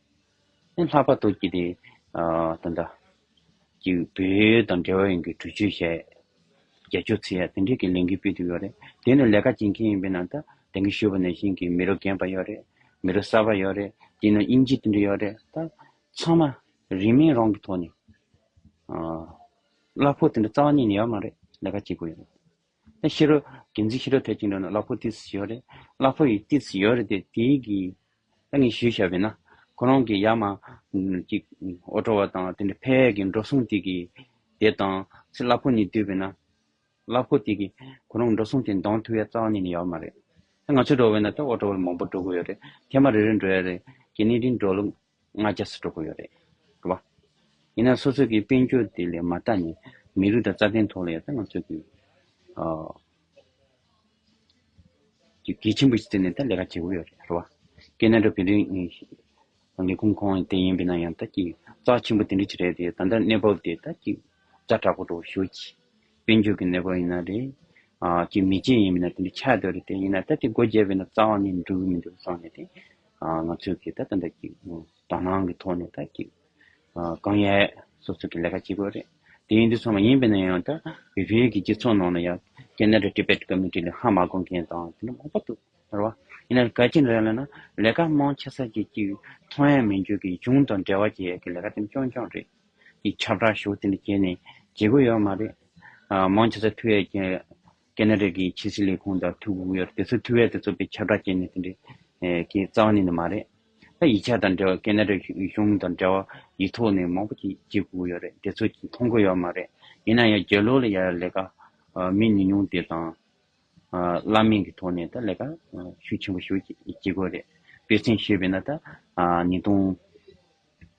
ནི་ལྷག་པར་དུ་ཀིརྟི་དང་འདྲ། ཀྱི་བོད་དང་འབྲེལ་བ་ཡོད་མཁན་གྲོས་ཆོད་བྱས། རྒྱལ་ཆོས་ཚིག་ཡག་དེ་འདྲས་ཀྱི་ལས་འགུལ་སྤེལ་ཐུབ་ཡོད་རེད། དེ་ནི་ལས་ཀ་བྱེད་མཁན་ཡིན་པའི་ནང་དུ་དེང་གི་ཤོད་པ་ནས་ཤིང་གི་མི་རོ་རྒན་པ་ཡོད་རེད། མི་རོ་གསར་པ་ཡོད་རེད། དེ་ནི་དབྱིན་ཇི་དེ་འདྲས་ཡོད་རེད། ད་ཚང་མ་རིན་མེད་རང་གི་ཐོག་ནས། གླ་ཕོགས་དེ་འདྲ་རྩ་བ་ཉིད་ནས་ཡོད་མ་རེད། ལས་ཀ་བྱེད་དགོས་ཡོད་རེད། ནས་ཤི་རོ། རྒྱལ་མཚན་ཤི་རོ་དེ་ཅིང་རོ་ན་གླ་ཕོག་ཏིས་ཡོ་རེ། གླ་ཕོག་ཡི་ཏིས་ཡོ་རེ་དེ་དེའི་གི། ད་ངས་ཞུས་ཤ་བས་ན། ཁོ་རང་གི་ཡ་མ། ཅིག། ཨོ་ཏྲོ་བ་དང་དེ་འདྲ་ཕའི་གི་འགྲོ་སོང་དེ་གི། དེ་དང། ཚེ་གླ་ཕོག་ནི་དུས་བས་ན། གླ་ཕོག་དེ་གི། ཁོ་རང་འགྲོ་སོང་དེ་མདང་ཐུག་ཡ་རྩ་བ་ནས་ནི་ཡ་བ་མ་རེད། ད་ང་ཚོས་འགྲོ་བས་ན་ད་ཨོ་ཏྲོ་བ་ལ་མང་པོ་འགྲོ་དགོས་ཡོ་རེ། ཐེ་མ་རེ་རེ་འགྲོ་ཡ་རེ། གྱི་ནི་རིང་འགྲོ་ལུགས། ང་རྒྱལ་སུ་འགྲོ་གི་ཡོད་རེད་བ། ཡིན་ནའང་སོ་སོ་གི་དཔལ་འབྱོར་དེ་ལས་མ་ལྟ་ནས་མི་རིགས་དང་རྩ་དོན་ཐོག་ལ་ཡོད་ས་ང་ཚོས་ཀྱི་ཀྱི་གལ་ཆེན་པོ་ཞིག་བརྩད་ནས་ད་ལས་ཀ་བྱེད་གི་ཡོད་རེད་བ། ཀྱེ་ན་འགྲོ་བོད་རིགས་ལས་ཁུངས་ཁོང་དེ་ཡིན་པས་ན་ཡང་ད་ཀྱི་རྩ་ཆེན་པོ་དེ་འདྲ་ཅིག་རེད་དེ་ད་ལྟ་གནས་བབ་དེ་ད་ཀྱི་རྩ་དྲག་པོ་འགྲོ་བ་ཞུ་གི། དཔལ་འབྱོར་གྱི་གནས་སྐོར་ཡིན་ན་རེད། ཀྱི་མི་རྗེ་ཡིན་མིན་ན་དེ་འདྲ་ཆགས་ཡོད་རེད་དེ་ཡིན་ན་ད་དེ་སྒོ་འབྱེད་པའི་ན་རྩ་བ་ནས་འགྲོ་གི་མི་འདུག་སོགས་ནས་དེ། ང་ཚོས་ཀྱི་ད་ད་ལྟ་ཀྱི་དོ་སྣང་གི་ཐོག་ནས་ད་ཀྱི། གང་ཡས་སོ་སོ་ཀྱི་ལས་ཀ་བྱེད་དགོས་རེད། དེ་ཡིན་དུས་སོང་མ་ཡིན་པའི་ན་ཡང་ད་བོད་བརྒྱུད་ཀྱི་སྤྱི་ཚོགས་ནང་ན་ཡང Canada Tibet Community ལ་ཧ་མ་གོ་མཁན་དང་དེ་འདྲ་མང་པོ་འདུག་རེད་བ། ཡིན་ན་གལ་ཆེན་རེད་ལ་ན་ལས་ཀ་མང་ཆེ་ས་ཀྱི་ཀྱི་ཐོ་ཡན་མི་འཇོག་ཀྱི་གཞུང་དང་འབྲེལ་བ་བྱེད་ཡས་ཀྱི་ལས་ཀ་དེ་འདྲ་ཅོང་ཅོང་རེད། ཀྱི་ཆབ་བྲག་ཞུགས་དེ་འདྲ་བྱས་ནས་བྱེད་དགོས་ཡོད་མ་རེད། མང་ཆེ་ས་ཐུ་ཡས་ཀྱི་ཀེ་ནཱ་རེ་ཀྱི་ཕྱི་སྲིད་ལས་ཁུངས་དང་ཐུག་དགོས་ཡོད་རེད་དེ་ཚོ་ཐུ་ཡས་དེ་ཚོ་པའི་ཆབ་བྲག་བྱས་ནས་དེ་འདྲ་ཀྱི་རྩ་བ་ནས་ནི་མ་རེད། ད་ཡིག་ཆ་དང་འབྲེལ་བ་ཀེ་ནཱ་རེ་གཞུང་དང་འབྲེལ་བ་ཡིག་ཐོག་ནས་མང་པོ་ཅིག་བྱེད་དགོས་ཡོད་རེད་དེ་ཚོ་མཐོང་དགོས་ཡོད་མ་རེད། ཡིན་ན་ཡང་རྒྱལ་ལོ་ལ་ཡར་ལས་ཀ་མི་ཉུང་ཉུང་དེ་དང། བླ་མེད་ཀྱི་ཐོག་ནས་ད་ལས་ཀ་ཤུགས་ཆེན་པོ་ཞུགས་བྱེད་དགོས་རེད། དཔེ་མཚོན་ཞུས་པས་ན་ད་ཉིས་སྟོང།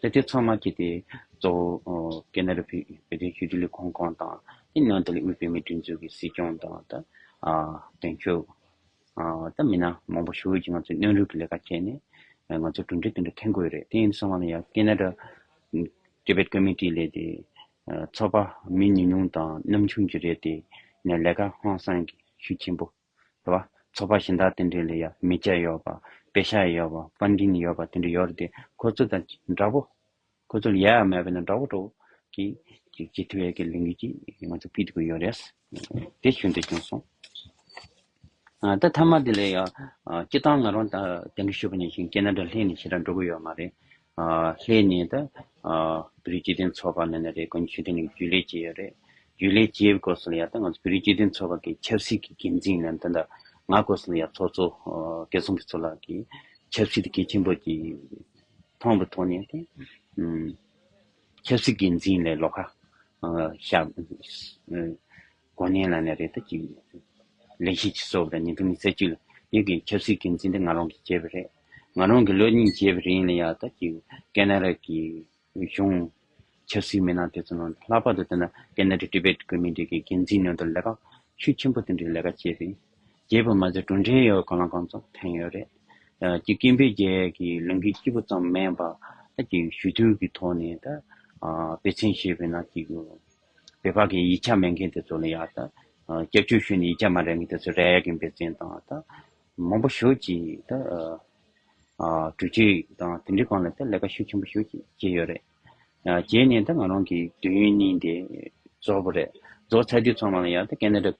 ལེ་ཏེ་ཚང་མ་སྐྱེས་ཏེ། གཙོ་བོ་ཀེ་ན་རི་བྷི་བྷི་ཏའི་ཤུལ་གྱི་ལས་ཁུངས་ཁང་དང། དེའི་ནང་དུ་ལས་དབུས་བོད་མིའི་སྒྲིག་འཛུགས་ཀྱི་སྲིད་སྐྱོང་དང། དོན་གཅོད། དང་མི་སྣ་མང་པོ་ཞུགས་ཡོད་ཀྱི་ང་ཚོས་སྣོན་རུལ་གྱི་ལས་ཀ་བྱས་ནས། ང་ཚོ་གྲུབ་འབྲས་དེ་འདྲ་འཐེན་དགོས་རེད་དེ་ཡིན་སོང་ང་ནི་ཡང་ཀེ་ན་རི། Tibet Committee། ལས་དེ། ཚོགས་པ་མི་ཉུང་ཉུང་དང་ནམ་ཆུང་གྱི་རེད་དེ། ནས་ལས་ཀ་ཧང་སངས་ཤུགས་ཆེན་པོ། དེ་བ། ཚོ་པ་གཞན་དག་དེ་འདྲའི་ལས་ཡ་མི་བྱ་ཡོད་པ། པེ་ཤ་ཡ་ཡོད་པ། པ་འདྲིན་ཡོད་པ་དེ་འདྲ་ཡོད་རེད་དེ། ཁོ་ཚོ་དང་འདྲ་པོ། ཁོ་ཚོ་ལ་ཡ་ཡ་མེད་པས་ན་འདྲ་བོ་འདྲ་བོ། གི། ཅིག་ཅིག་ཐུ་ཡ་གི་ལས་འགུལ་གྱིས་ང་ཚོ་སྐུལ་དགོས་ཡོད་རེད། དེ་བྱུང་དེ་བྱུང་སོང། ད་མཐའ་མ་དེ་ལས་ཡ། སྤྱི་བཏང་ང་རང་ད་དེ་འདྲ་ཞུ་བ་ནས་བཞིན་ཀེ་ན་ཏྲ་ལྷན་ནས་ཞེ་དྲག་འགྲོ་གི་ཡོད་མ་རེད། ལྷའི་གནས་དང། བོད་རིགས་སྤྱི་མཐུན་ཚོགས་པ་ནས་ནི་རེ་སྐོན་ཆོས་ལྡན་གྱི་རྒྱུད་ལས་བཅས་ཡོད་རེད། རྒྱུད་ལས་བཅས་བསྐོར་སོ་ལ་ཡ་ད་ང་ཚོ་བོད་རིགས་སྤྱི་མཐུན་ཚོགས་པ་གི་ཆབ་སྲིད་ཀྱི་འགན་འཛིན་ནས་འདི་འདྲ་ང་བསྐོར་སོ་ལ་ཡ་ཚོགས་གཙོ་བཀའ་ཟུང་གི་ཚོགས་ལ་གི་ཆབ་སྲིད་གལ་ཆེན་པོ་གྱི་ཐོང་པོ་ཐོག་ནས་དེ། ཆབ་སྲིད་འགན་འཛིན་ལས་ལོག་ཁ། ཤ། གོ་གནས་ལ་ནི་རེ་ད་གཅིག། ལེགས་ཤིག་ཅེས་གསོལ་བ་དང་ཉིན་ཐོ་ནི་རྩེ་གཅིག་ལ། ཡིད་ཀྱི་ཆབ་སྲིད་ཀྱི་འཛིན་གྲྭ་ང་རང་གིས་བྱས་པ་རེད། ང་རང་གིས་ལོ་གཉིས་བྱས་པ་རེད་ཡིན་ལ་ཡག་ད་གཅིག། ཀེ་ན་ར་གི་གཞུང། ཆབ་སྲིད་མི་སྣ་དེ་ཚོ་ནང་དུ་ལྷག་པར་དུ་བལྟས་ན་ཀེ་ན་རི་ཏི་བེད་བཀོད་མི་སྒྲིག་གི་འགན་འཛིན་ནང་དུ་ལས་ཀ། ཤུགས་ཆེན་པོ་དེ་འདྲའི་ལས་ཀ་བྱས་རེད། བྱས་པ་མ་ཟད་གྲུབ་འབྲས་ཡོད་གང་ལ་གང་ཚོགས་ཐོན་ཡོད་རེད། གཅིག་ཀིན་པེ་རྒྱལ་གྱི་ལུང་གི་སྐྱིད་པོ་ཙམ་མེད་པ། ད་གཅིག་ཞུ་གཏུག་གི་ཐོག་ནས་ད། དཔེ་ཚན་ཞེས་པའི་ནང་གཅིག། བོད་པ་གིས་ཡིག་ཆ་མེད་མཁན་དེ་ཚོ་ལ་ཡང་དང་སྐྱབས་བཅོལ་ཞུས་ནས་ཡིག་ཆ་མ་རེག་མཁན་དེ་ཚོ་རེག་གིན་པའི་རྐྱེན་དང་དང། མང་པོ་ཞུ་གི་དང། དྲུག་ཅུ་དང་དེ་འདྲའི་གང་ལ་དང་ལས་ཀ་ཤུགས་ཆེན་པོ་ཞུ་གི་ཡོད་རེད། རྗེས་ནས་དང་ང་རང་གིས་དུས་ཡུན་གཉིས་དེ་རྫོགས་པ་རེད། རྫོགས་ཚར་དུས་ཚང་མ་ལ་ཡང་དང་ཀེ་ནེ་ར།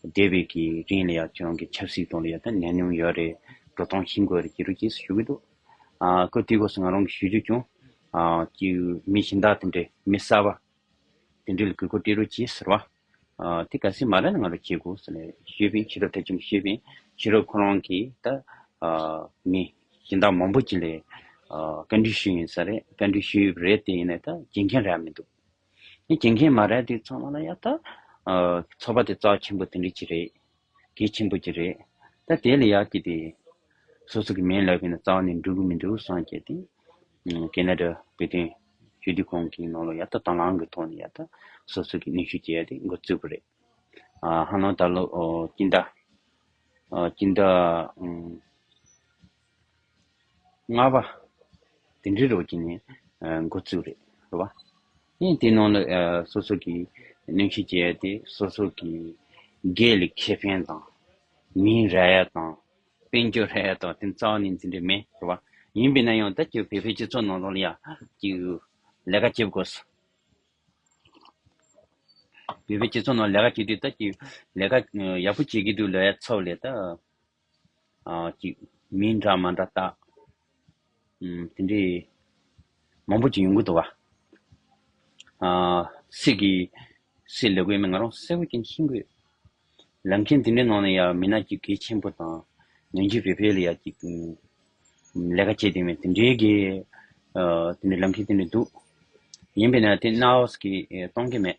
སྡེ་བའི་གི་རིང་ལ་ཡང་ཁྱོད་རང་གི་ཆབ་སྲིད་དང་ལ་ཡང་ད་ནད་ཉུང་ཡོད་རེད། འགྲོ་སྟངས་ཤིན་དགོས་རེད་ཅེས་རུ་སྐྱེས་སུ་ཞུ་གི་འདུག། ཨ་ཁུ་དེའི་སྐོར་སུ་ང་རང་གིས་ཞུས་རྒྱུ་ཀྱང། ཀྱི་མི་གཞན་དག་དེ་འདྲའི་མི་གསར་བ། དེ་འདྲའི་ལ་གུས་བཀུར་སྟེར་རོ་ཅེས་ཟེར་བ། དེ་ག་སེ་མ་ར་ནས་ང་རང་བྱེད་དགོས་ཟེར་ནས་ཤོད་ཕིན་ཕྱི་རབས་ཐེ་ཆུང་ཤོད་ཕིན་ཕྱི་རབས་ཁོ་རང་གིས་ད། མི་གཞན་དག་མང་པོ་ཅིག་ལས། བཀའ་འདྲི་ཞུས་ཡིན་ས་རེད་བཀའ་འདྲི་ཞུས་རེད་དེ་ཡིན་ནས་ད་སྦྱིན་མཁན་རེད་མི་འདུག། ནི་དགེ་མཁན་མ་རལ་དུས་ཚང་མ་ལ་ཡ་ད། ཚོ་པ་དེ་རྩ་བ་ཆེན་པོ་དེ་འདྲི་གྱི་རེད། གལ་ཆེན་པོ་གྱི་རེད། ད་དེ་ལ་ཡ་གི་དེ། སོ་སོ་གི་མེན་ལབ་གི་ན་རྩ་བ་ནི་འགྲུབ་མི་འགྲུབ་སངས་རྒྱས་དེ། ཀེ་ན་ར་བོད་དོན། ཞུ་དུས་ཁོང་གི་ནང་ལ་ཡ་ད་དང་བླང་གི་ཐོག་ནས་ཡ་ད། སོ་སོ་གི་ནུས་ཤུགས་ཀྱི་ཡ་དེ་འགོ་བཙུགས་པ་རེད། ཧ་ལོང་ད་ལོ་སྐྱིད་ཟླ། སྐྱིད་ཟླ། ལྔ་བ། དེ་འདྲའི་རོགས་ཀྱི་ནི་འགོ་བཙུགས་རེད་བ། ཡིན་དེའི་ནང་ལ་སོ་སོ་གི་གནོན་ཤུགས་རྒྱས་ཏེ་སོ་སོ་གི་དགེ་ལུགས་ཁེ་ཕན་དང། མིའི་རེ་ཡ་དང། དཔལ་འབྱོར་རེ་ཡ་དང་དེ་རྩ་བ་ནས་འཛིན་འདོད་མེད་རེད་བ། ཡིན་པས་ན་ཡང་ད་ཀྱི་བོད་པའི་སྤྱི་ཚོགས་ནང་ལ་ཡང་ཀྱི་ལས་ཀ་བྱེད་དགོས་སོ། བོད་པའི་སྤྱི་ཚོགས་ནང་ལས་ཀ་བྱེད་དུས་ད་ཀྱི་ལས་ཀ་ཡག་པོ་བྱེད་ཀྱི་འདུག་ལོ་ཡ་ཚོ་ལས་ད། ཅིག། མི་འདྲ་མ་འདྲ་བརྟག། དེ་འདྲའི། མང་པོ་ཅིག་ཡོང་གི་འདུག་བ། སྲིད་ཀྱི། སྲིད་ལས་གོས་མེད་ང་རང་གསལ་བོ་ཀྱང་ཤེས་དགོས། ལམ་ཁྱེན་དེ་འདྲའི་ནང་ནས་ཡང་མི་སྣ་ཅིག་གལ་ཆེན་པོ་དང། ངན་ཇུས་བེད་སྤེལ་ཡང་ཅིག། ལས་ཀ་བྱེད་དེ་མི་དེ་འདྲའི་གི། དེ་འདྲའི་ལམ་ཁྱེན་དེ་འདྲའི་འདུག། ཡིན་པས་ན་དེ་གནའ་བོ་ཞིག་གིས་གཏོང་གི་མེད།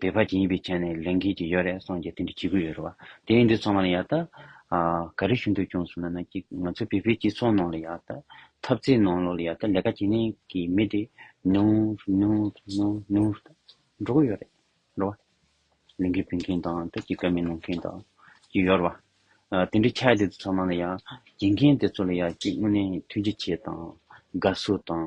བེ་བྷ་ཅི་ཡིན་པའི་ཆ་ནས་ལེན་མཁན་ཅིག་ཡོད་རེད་སོང་རྒྱ་དེ་འདྲ་བྱེད་གི་ཡོད་རེད་བ། དེ་ཡིན་དུས་ཚང་མ་ལ་ཡག་ད། ག་རེ་ཞུ་འདོད་ཀྱང་ཟུར་ན་ན་ཀྱི་ང་ཚོ་བེ་བྷའི་སྤྱི་ཚོགས་ནང་ལ་ཡག་ད། འཐབ་རྩེད་ནང་ལོག་ལ་ཡག་ད་ལས་ཀ་བྱེད་ནས་ཀྱི་མི་དེ་ནུར་ནུར་ནུར་ནུར་ད་འགྲོ་གི་ཡོད་རེད་རེད་བ། ལས་འགུལ་སྤེལ་མཁན་དང་ད་ཀྱི་ཀ་མེད་གནང་མཁན་དང་ཀྱི་ཡོད་རེད་བ། དེ་འདྲ་ཆགས་དུས་ཚང་མ་ལ་ཡག་བྱེད་མཁན་དེ་ཚོ་ལ་ཡག་ཅིག་དངོས་གནས་ཐུགས་རྗེ་ཆེ་དང། དགའ་བསུ་དང།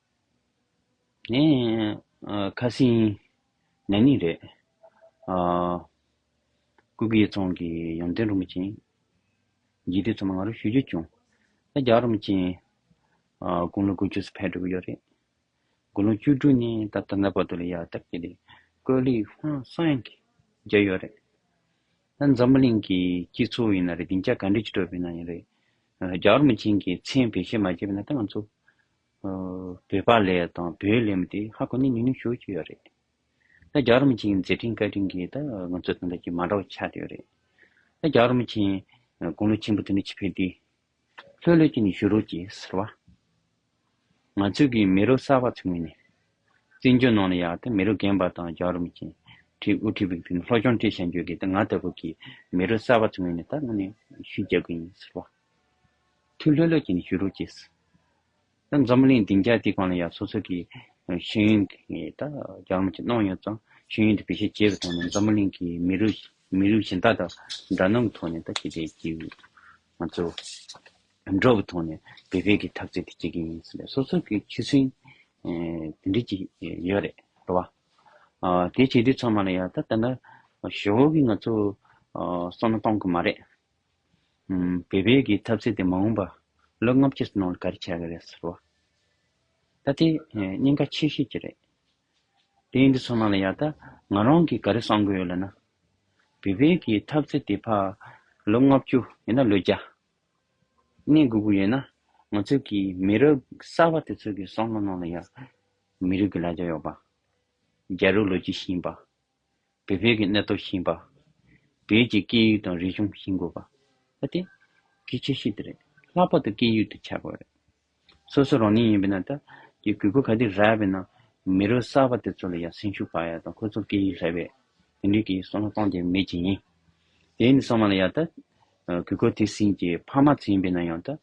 ངས་ཁ་སིང་ན་ནིང་རེད། སྐུ་སྒེར་ཚང་གི་ཡོན་ཏན་རིན་པོ་ཆེ་འཇིག་རྟེན་ཚོ་མ་ང་རོ་ཞུ་རྒྱུ་བྱུང། ད་རྒྱ་རིན་པོ་ཆེ་དགུང་ལོ་དགུ་བཅུ་སུ་ཕེབས་འགྲོ་གི་ཡོད་རེད། དགུང་ལོ་བཅུ་དྲུག་ནི་ད་ལྟ་ནག་པ་དུ་ལ་ཡར་བཏབ་ཀྱི་རེད། ཀོས་ལི་ཧོན་སན་གྱིས་བརྗོད་ཡོད་རེད། ད་འཛམ་བུ་གླིང་གི་སྤྱི་ཚོགས་ཡིན་ན་རེད་བདེ་འཇགས་ག་འདྲས་ཀྱི་སྤྲོད་པའི་ནང་ཡིན་རེད། རྒྱ་རིན་པོ་ཆེ་གྱི་མཚན་བེད་སྤྱོད་མ་བྱས་པས་ན་ད་ང་ཚོ་བོད་པ་ལས་དང་བོད་ལས་མི་དེ་ཧ་གོ་ནས་ཉུང་ཉུང་ཞུ་གི་ཡོད་རེད་ད་རྒྱ་རོ་མི་ཆེན་མཛད་འཕྲིན་བཀའ་དྲིན་གྱིས་ད་ང་ཚོ་དང་འདྲ་གྱི་མ་འདྲ་བ་ཆགས་ཏེ་ཡོད་རེད་ད་རྒྱ་རོ་མི་ཆེན་དགུང་ལོ་ཆེན་པོ་དེ་ནས་ཆི་ཕེར་དེ་ལྷོད་ལྷོད་ཀྱི་ནས་ཞུ་རོགས་ཀྱི་ཟེར་བ་ང་ཚོ་གི་མི་རོ་གསར་བ་ཚོ་ངོས་ནས་བཙན་བྱོལ་ནང་ལ་ཡག་ད་མི་རོ་རྒན་པ་དང་རྒྱ་རོ་མི་ཆེན་ཁྲི་དབུ་ཁྲི་བིག་དེ་ནས་ལྷོ་སྐྱོང་ཁྲི་ཞལ་འཇོལ་གྱིས་ད་ང་ལྟ་བུ་གི་མི་རོ་གསར་བ་ཚོ་ངོས་ནས་ད་ང་ནས་ཞུ་རྒྱག་གི་ཡིན་ཟེར་བ། ཐུགས་ལྷོད་ལྷོད་ཀྱིས་ནི་ཞུ་རུ་སྐྱེས། ད་འཛམ་བུ་གླིང་སྡིངས་ཆ་འདི་གང་ལ་ཡང་སོ་སོ་གི་ཤེས་ཡོན་གྱི་ད་རྒྱ་མོ་ཆེ་གནང་ཡོད་ཙང་ཤེས་ཡོན་དེ་བེད་སྤྱད་བྱེད་པའི་ཐོག་ནས་འཛམ་བུ་གླིང་གི་མི་རུ་མི་རུ་གཞན་དག་དང་འདྲ་སྣང་གི་ཐོག་ནས་ད་ཅི་བྱེད་ཀྱི་ཡོད། ང་ཚོ་འགྲོ་བའི་ཐོག་ནས་བེད་སྤེལ་གྱི་ཐབས་རྩལ་དེ་བྱེད་ཀྱི་ཡིན་ཟེར་ནས་སོ་སོ་གི་ཁྱི་སེང་དེ་འདྲི་གྱི་ཡོད་རེད་རེད་བ། དེ་བྱེད་དུས་ཚང་མ་ལ་ཡང་ད་ད་ན་ཞོགས་ཀྱི་ང་ཚོ་བསམ་བློ་གཏང་གི་མ་རེད། བོད་པའི་གི་ཐབས་ཟད་དེ་མ་འོངས་པ་ལོ་ལྔ་བཅུ་ཙམ་ནང་ལ་ག་རེ་བྱ་གི་རེད་ཟེར་བ། ད་དེ་སྙིང་ཁ་ཆེ་ཤོས་ཀྱི་རེད། དེ་འདི་ཚོ་ནང་ལ་ཡག་ད་ང་རང་གི་ག་རེ་གསང་གི་ཡོད་ལ་ན། བོད་པའི་གི་ཐབས་ཟད་དེ་ཕ་ལོ་ལྔ་བཅུ་ཡིན་ན་ལོ་བརྒྱ་གནས་དགོས་གི་ཡོད་ན་ང་ཚོ་གི་མི་རབས་གསར་བ་དེ་ཚོ་གི་གསང་ལ་ནང་ལ་ཡག། མི་རིགས་གི་ལ་རྒྱ་ཡོག་པ། རྒྱ་རིགས་ལོ་རྒྱུས་ཤེས་པ། བོད་ཕལ་གྱི་གནས་སྟོབས་ཞན་པ། བོད་ཀྱི་སྐད་ཡིག་དང་རིག་གཞུང་ཞིང་དགོས་པ། ཨ་ཏི། གི་ཆེ་ཤོས་དེ་རེད། ལྷག་པར་དུ་སྐད་ཡིག་ཏུ་བྱ་དགོས་རེད། སོ་སོ་རང་ཉིད་ཡིན་པའི་ནང་དུ། ཀྱི་གུས་པ་ག་དུས་རག་པའི་ནང། མི་རོ་གསར་པ་དེ་ཚོ་ལ་ཡང་སེམས་ཤུགས་སྤར་ཡ་དང་ཁོ་ཚོར་སྐད་ཡིག་ལྷད་པའི། དེ་འདྲའི་གི་སོ་ལྷ་གཏོང་དེ་མེད་ཅིག་ཡིན། དེ་ནི་སོ་མ་ལ་ཡ་ད། གུས་ཀོ་དེ་སིན་གྱི་ཕ་མ་ཚོ་ཡིན་པའི་ནང་ཡང་དུ།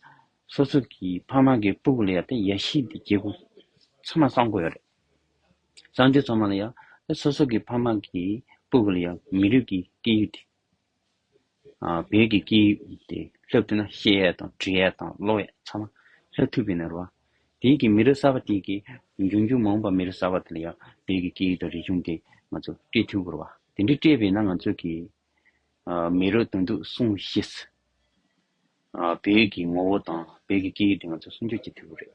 སོ་སོ་གི་ཕ་མ་གི་སྤུ་གུ་ལ་ཡ་ད་ཡ་ཤི་དེ་རྒྱལ་ཁུག། ཚུ་མ་སང་དགོས་ཡོད་རེད། གཙང་ཆུའི་ཚོང་མ་ལ་ཡང། སོ་སོ་གི་ཕ་མ་གི་སྤུ་གུ་ལ་ཡང་མི་རིགས་ཀྱི་སྐད་ཡིག་དེ། བོད་ཀྱི་སྐད་ཡིག་དེ་ལྷབ་ཐུབ་ན་བཤད་ཡས་དང་འབྲི་ཡས་དང་ཀློག་ཡས་ཚང་མ་ལྷབ་ཐུབ་པའི་ནས་རུ་བ། དེའི་གི་མི་རིགས་གསར་བ་དེའི་གི་འབྱུང་འགྱུར་མང་བ་མི་རིགས་གསར་བ་དེ་ལ་ཡང་བོད་ཀྱི་སྐད་ཡིག་དང་རིག་གཞུང་དེ་ང་ཚོ་སྤྲད་ཐུབ་རུ་བ། དེ་འདྲི་སྤྲད་པས་ན་ང་ཚོ་གི། མི་རིགས་དོན་ཐུག་སྲུང་ཤེས་སི། བོད་ཀྱི་ངོ་བོ་དང་བོད་ཀྱི་སྐད་ཡིག་དེ་ང་ཚོ་སྲུང་སྐྱོབ་བྱེད་ཐུབ་རེད།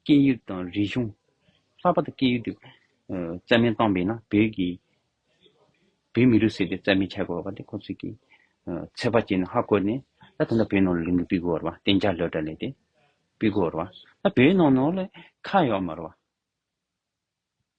སྐད་ཡིག་དང་རིག་གཞུང། ལྷག་པར་དུ་སྐད་ཡིག་ཏུ་རྩལ་སྨན་བཏང་པས་ན་བོད་ཀྱི་བོད་མི་རུ་ཟེར་ཏེ་རྩལ་སྨན་འཆར་དགོས་བ་དེ་ཁོ་ཚོས་ཀྱིས་ཚོད་དཔག་བྱས་ནས་ཧ་བཀོད་ནས་ད་དེ་འདྲ་བོད་ནང་ལ་ལུང་གིས་སྤིག་དགོས་བར་བ་གཏན་འཇགས་ལོས་དྲ་ལས་ཏེ་སྤིག་དགོས་བར་བ་ད་བོད་ནང་ནང་ལ་ཁ་ཡོག་མར་བ།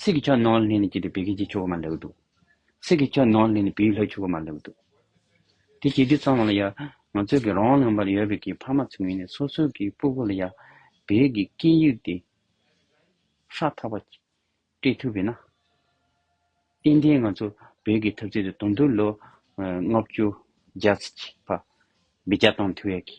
སྲིད་ཀྱི་ཆོས་ནོར་ལྷན་ནི་སྐྱེས་པའི་བད་ཀན་གྱི་ཆུ་བོ་མ་ལེགས་བདུག། སྲིད་ཀྱི་ཆོས་ནོར་ལྷན་ནི་བེའུའི་ལྷའི་ཆུ་བོ་མ་ལེགས་བདུག། དེ་སྐྱེས་དུས་ཙམ་ལ་ཡང་ང་ཚོས་ཀྱི་རང་ལྷན་པར་ཡོད་པའི་ཀྱི་ཕ་མ་ཚུལ་མིན་ནས་སོ་སོའི་ཀྱི་སྤུ་གུ་ལ་ཡང་བད་ཀྱི་སྐྱེས་དབྱུག་སྟེ་ཧྲག་ཐག་པ་སྤྲད་ཐུབ་པས་ན། ཏན་ཏན་ང་ཚོ་བད་ཀྱི་ཐབས་རྩལ་དུ་དུང་དུར་ལོ་ལྔ་བཅུ་བརྒྱ་ཚིག་གཅིག་པ་བི་རྒྱ་དང་དུ་བད་ཀྱི་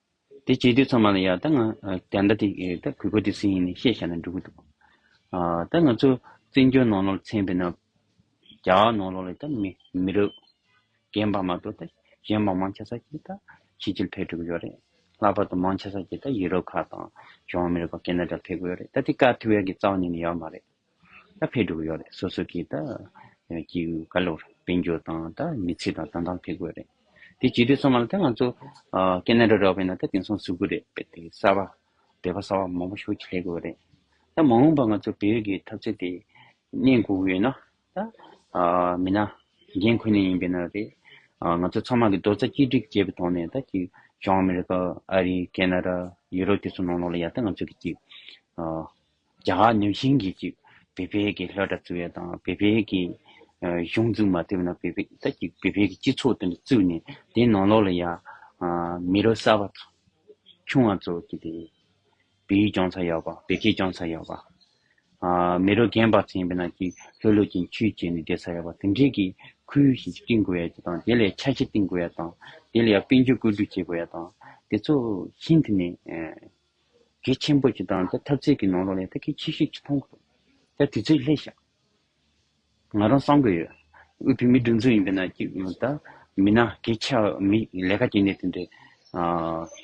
དེ་བྱས་དུས་ཚང་མ་ལ་ཡང་ད་ང་དེ་འདྲ་དེ་ད་གུས་པ་དེ་སུ་ཡིན་ནི་ཤེས་བྱ་ན་འགྲིག་གི་འདུག་ད་ང་ཚོ་བཙན་བྱོལ་ནང་ལོག་ལ་འཚེམ་པའི་ནང་རྒྱ་གར་ནང་ལོག་ལ་ད་མི་མི་རབས་རྒན་པ་མ་གཏོགས་ད་གཞན་མང་མང་ཆ་ས་ཀྱི་ད་ཕྱི་རྒྱལ་ཕེབས་འགྲོ་གི་ཡོད་རེད་ལྷག་པར་དུ་མང་ཆ་ས་ཀྱི་ད་ཡི་རོབ་ཁག་དང་གཞུང་ཨ་མི་རི་ཀ་ཀེ་ན་ཏྲ་ཕེབས་གི་ཡོད་རེད་ད་དེ་ཀ་ཐི་ཝེར་གྱི་རྩ་བ་ཉིད་ནས་ཡོད་མ་རེད། ད་ཕེབས་འགྲོ་གི་ཡོད་རེད་སོ་སོ་གིས་ད་ཀྱི་ག་ལོར་དཔལ་འབྱོར་དང་ད་མི་ཚེ་དང་ད་འདང་ཕེབས་དགོས་རེད་དེ་ཇི་དུས་སོང་ང་ལ་ད་ང་ཚོ་ཀ་ན་ར་ར་བས་ན་ད་དེང་སང་ཟུག་གི་རེད་བེད་དེ་གསར་བ་བེད་པ་གསར་བ་མང་པོ་ཞུ་ཁྱེད་ལས་དགོས་རེད་ད་མ་འོངས་པ་ང་ཚོ་བེད་ཀྱི་ཐབས་ཚད་དེ་གནས་དགོས་གི་ཡོད་ན་ད་མི་ན་རྒན་ཁོ་ན་ཡིན་པས་ན་རེད་ང་ཚོ་ཚང་མ་གི་རྡོ་རྩ་གཅིག་སྒྲིག་བྱས་པའི་ཐོག་ནས་ད་ཀྱི་བྱང་ཨ་མི་རི་ཀ་ཨ་རི་ཀ་ན་ར་ཡུ་རོབ་དེ་ཚོ་ནང་ལོགས་ལ་ཡ་ད་ང་ཚོ་གི་ཀྱི། རྒྱ་གར་ནུས་ཆེན་གྱིས་ཀྱིས་བེ་བེ་ཀྱི་ལྷ་གྲྭ་བཙུགས་ཡ་དང་བེ་བེ་ཀྱི་གཞུང་བཙུགས་མ་ཐེབས་ན་བེ་བེ་ད་ཀྱི་བེ་བེ་ཀྱི་སྤྱི་ཚོགས་དེ་འདྲ་བཙུགས་ནས་དེ་ནང་ལོགས་ལ་ཡ་མི་རོ་གསར་བ་དང་ཆུང་བ་ཚོ་ཀྱི་དེ་བེ་ཡུལ་སྐྱོང་ཚར་ཡོད་པ་བེ་ཁེ་སྐྱོང་ཚར་ཡོད་པ་མི་རོ་རྒན་པ་ཚན་པ་ན་ཀྱི་ལྷོད་ལྷོད་ཀྱིས་འཁྱུད་བྱས་ནས་བསྡད་ཚར་ཡོད་པ་དེ་འདྲས་ཀྱི་ཁུལ་ཞིག་བསྐྲིན་དགོས་ཡ་ཀྱི་དང་དེ་ལས་ཆ་ཤས་བསྟིང་དགོས་ཡ་དང་དེ་ལ་ཡ་དཔལ་འབྱོར་བཀོད་སྒྲིག་བྱེད་དགོས་ཡ་དང་དེ་ཚོ་ཤིན་ཏུ་ནས་གེགས་ཆེན་པོ་ཅི་དང་ད་ཐབས་རྩལ་གྱི་ནོར་ལོག་ལས་ད་གེགས་ཆེ་ཤོས་ཅི་མཐོང་དགོས། ད་དུས་ཚོད་ལྷད་ཤག་ང་རང་སང་དགོས་ཡོད། དབུས་བོད་མིའི་སྒྲིག་འཛུགས་ཡིན་པས་ན་ཀྱི་ད་མི་ན་གེགས་ཆ་མི་ལས་ཀ་གྱེས་ནས་དེ་འདྲའི་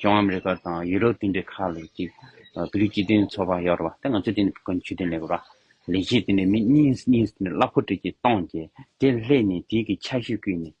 ལྗོངས་ཨ་མི་རི་ཀར་དང་ཡུ་རོབ་དེ་འདྲའི་ཁག་ལས་ཀྱི་བོད་རིགས་སྤྱི་མཐུན་ཚོགས་པ་ཡོད་རེད་བ་ད་ང་ཚོས་དེ་འདྲའི་ཀུན་སྤྱོད་དེ་འདྲ་མེད་རེད་བ་ལས་གཞི་དེ་འདྲའི་མི་གཉིས་གཉིས་གླ་ཕོག་གྲིས་ཀྱིས་བཏང་རྗེས་དེ་ལྷད་ནས་དེའི་གི་ཆ་ཤོས་བརྐུས་ནས།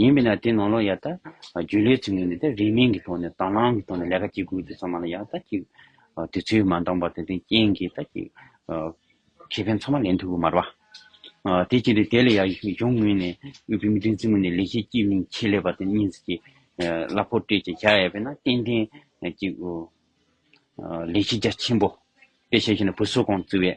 ཡིན་མིན་ལ་དེ་ནང་ལོག་ཡ་ད་རྒྱུ་ལས་ཚུལ་ངན་དེ་རིན་མིན་གྱི་ཐོག་ནས་དང་བླང་གི་ཐོག་ནས་ལས་ཀ་བྱེད་དགོས་དུས་ཚང་མ་ལ་ཡ་ད་ཀྱི་དུས་ཚོད་མ་འདང་བར་དེ་དོན་རྐྱེན་གྱི་ད་ཀྱི་ཁེ་ཕན་ཚང་མ་ལེན་ཐུབ་གི་མར་བ། དེ་བྱས་ཏེ་དེ་ལ་ཡ་གཞུང་ངོས་ནས་དབུས་བོད་མི་སྒྲིག་འཛིན་མུ་ནས་ལས་བྱེད་ཀྱི་མིང་ཁྱེད་ལས་པ་དེ་གཉིས་ཀྱི་གླ་ཕོག་སྤྲད་ཅིག་བྱ་ཡ་བས་ན་ཏན་ཏན་ཀྱི་ལས་བྱེད་རྒྱ་ཆེན་པོ་དཔེ་བྱས་ཤེ་ན་བུ་སོ་གང་བརྩི་བས།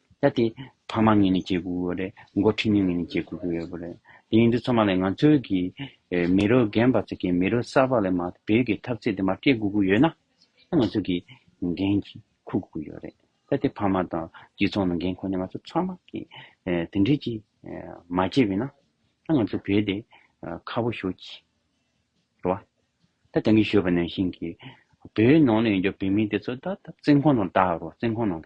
ད་དེ། ཕ་མ་ངེད་ནས་བྱེད་དགོས་ཀྱི་རེད། མགོ་འཁྲིད་མི་ངེད་ནས་བྱེད་དགོས་ཀྱི་ཡོད་པ་རེད། དེ་ཡིན་དུས་ཚང་མ་ལས་ང་ཚོའི་གི། མི་རོ་རྒན་པ་ཚོ་གི་མི་རོ་གསར་པ་ལས་མ་ཏེ་བོད་ཀྱི་ཐབས་རྩལ་དེ་མ་སྤྲད་དགོས་ཀྱི་ཡོད་ན། ད་ང་ཚོ་གི་འགན་གྱི་ཁུར་དགོས་ཀྱི་ཡོད་རེད། ད་དེ་ཕ་མ་དང་སྤྱི་ཚོགས་ནང་རྒན་ཁོ་ནས་ང་ཚོ་ཚང་མ་གི། དེ་འདྲས་ཀྱི་མ་བྱས་པས་ན། ད་ང་ཚོ་བོད་དེ་ཁ་བོ་ཞོག་གྱི། རེད་བ། ད་དེང་གི་ཞོག་པ་ནང་བཞིན་གྱི། བོད་ནང་ལ་ཡོད་རྒྱུ་བོད་མི་དེ་ཚོ་ད་ཐབས་རྩལ་ཁོ་ནང་བལྟ་རོགས་རྩལ་ཁོ་ནང།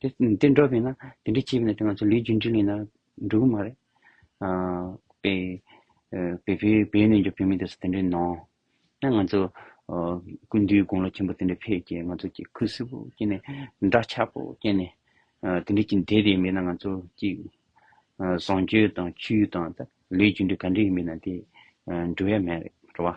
དེ་འདྲ་བས་ན་དེ་འདྲ་བྱས་པས་ན་དེ་ང་ཚོ་ལུས་རྒྱུན་འགྲིག་ལེ་ན་འགྲོ་གི་མ་རེད། པེ་པེ་བེ་བེ་ནས་ཀྱི་བོད་མི་དེ་ཚོ་དེ་འདྲ་ནང་ན་ང་ཚོ་ཀུན་འདུས་དགུང་ལོ་ཆེན་པོ་དེ་འདྲ་ཕེབས་ཀྱི་ང་ཚོ་ཀྱི་ཁུ་སིམ་པོ་སྐྱེས་ནས་འདྲ་ཆགས་པོ་སྐྱེས་ནས་དེ་འདྲ་ཀྱི་འདས་དེ་མེད་ན་ང་ཚོ་ཀྱི་བཟང་སྤྱོད་དང་ཆོས་དང་ལུས་རྒྱུན་འགྲིག་ག་འདྲ་ཡིན་མིན་ན་དེ་འགྲོ་ཡ་མེད་རེད་རེད་བ།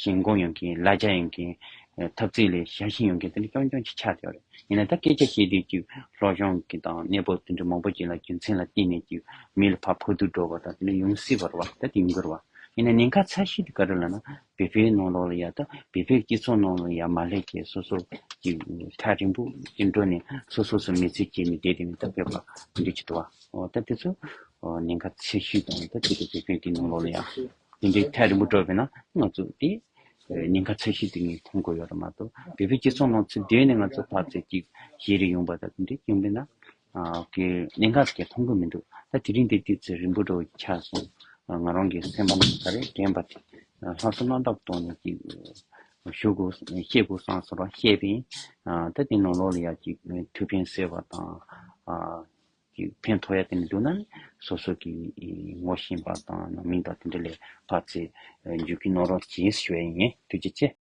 ཞིང་སྒོ་ཡོང་གིན་གླ་ཆ་ཡོང་གིན། ཐབ་ཚིག་ལས་ཞྭ་ཤིང་ཡོང་གིན་དེ་འདྲ་སྐྱོང་སྐྱོང་ཅིག་ཆགས་ཡོད་རེད། ཡིན་ན་ད་སྐད་ཆ་བཤད་དུས་ཀྱི་ལྷོ་གཞོང་གི་དང་གནས་བབ་དེ་འདྲ་མང་པོ་ཅིག་ལ་རྒྱུ་མཚན་ལ་བརྟེན་ནས་ཀྱི་མི་ལ་ཕ་ཕོ་དུར་འགྲོ་བ་དང་དེ་འདྲ་ཡོང་སྲིད་པར་བ་ད་དེ་ཡིན་དགོས་རེད་བ། ཡིན་ན་ཉེན་ཁ་ཚ་ཤེས་དུས་ག་རེ་ལ་ན་བོད་པའི་ནང་ལོགས་ལ་ཡ་ད་བོད་པའི་སྐྱིད་ཚོགས་ནང་ལ་ཡ་མ་ལྷད་ཀྱི་སོ་སོར་ཀྱི་ཁྲ་རིང་པོ་ཅིག་འགྲོ་ནས་སོ་སོ་སུ་མེད་ཚུལ་བྱས་ནས་བསྡད་དེ་མི་ད་བོད་པ་འདྲི་ཅིག་འདྲི་བ། ད་དེ་ཚོ་ཉེན་ཁ་ཚ་ཤེས་དང་ད་དེ་འདྲ་བོད་པའི་དེ་ནང་ལོགས་ལ་ཡ། དེ་འདྲའི་ཐལ་རིང་པོ་བཀྲོལ་བས་ན་སྣ་ཚོགས་ཏེ། ཉེན་ཁ་ཚད་གཞི་དེ་ངས་མཐོང་དགོས་ཡོད་ར་མ་གཏོགས་བལ་པོའི་སྤྱི་ཚོགས་ནང་ཚུལ་དེ་ནི་ང་ཚོ་ཕར་ཚད་ཅིག་གཞི་རེ་ཡོང་པ་དང་དེ་འདྲའི་སྐྱོན་མེད་ན། ཀྱི་གནད་འགག་ཅིག་མཐོང་གི་མི་འདུག་ད་དེ་རིང་འདིར་དུས་ཚོད་རིང་པོ་འགྲོ་བའི་ཆ་སོང། ང་རང་གི་སེམས་པ་ནང་ག་རེ་དྲན་པ་དེ་ལྷ་བཟོ་རྣམ་དག་གཏོང་ནས་ཅིག་ཞུ་དགོས་ཤེས་དགོས་སང་ཟེར་བ་བཤད་པས། ད་དེ་ནང་ལོགས་ལ་ཡ་ཅིག་ཐུགས་ཕན་སེལ་བ་དང། ཀྱི་ཕན་ཐོགས་ཡ་དེ་མི་འདུག་ན་སོ་སོ་ཀྱི་ངོ་ཤེས་པ་དང་ནང་མིང་དང་དེ་འདྲ་ལས་ལྷག་ཚེ་འཇུག་གི་ནོར་རོ་གྱིས་ཞུ་བ་ཡིན་ངེས་དུས་ཀྱི་ཚེ།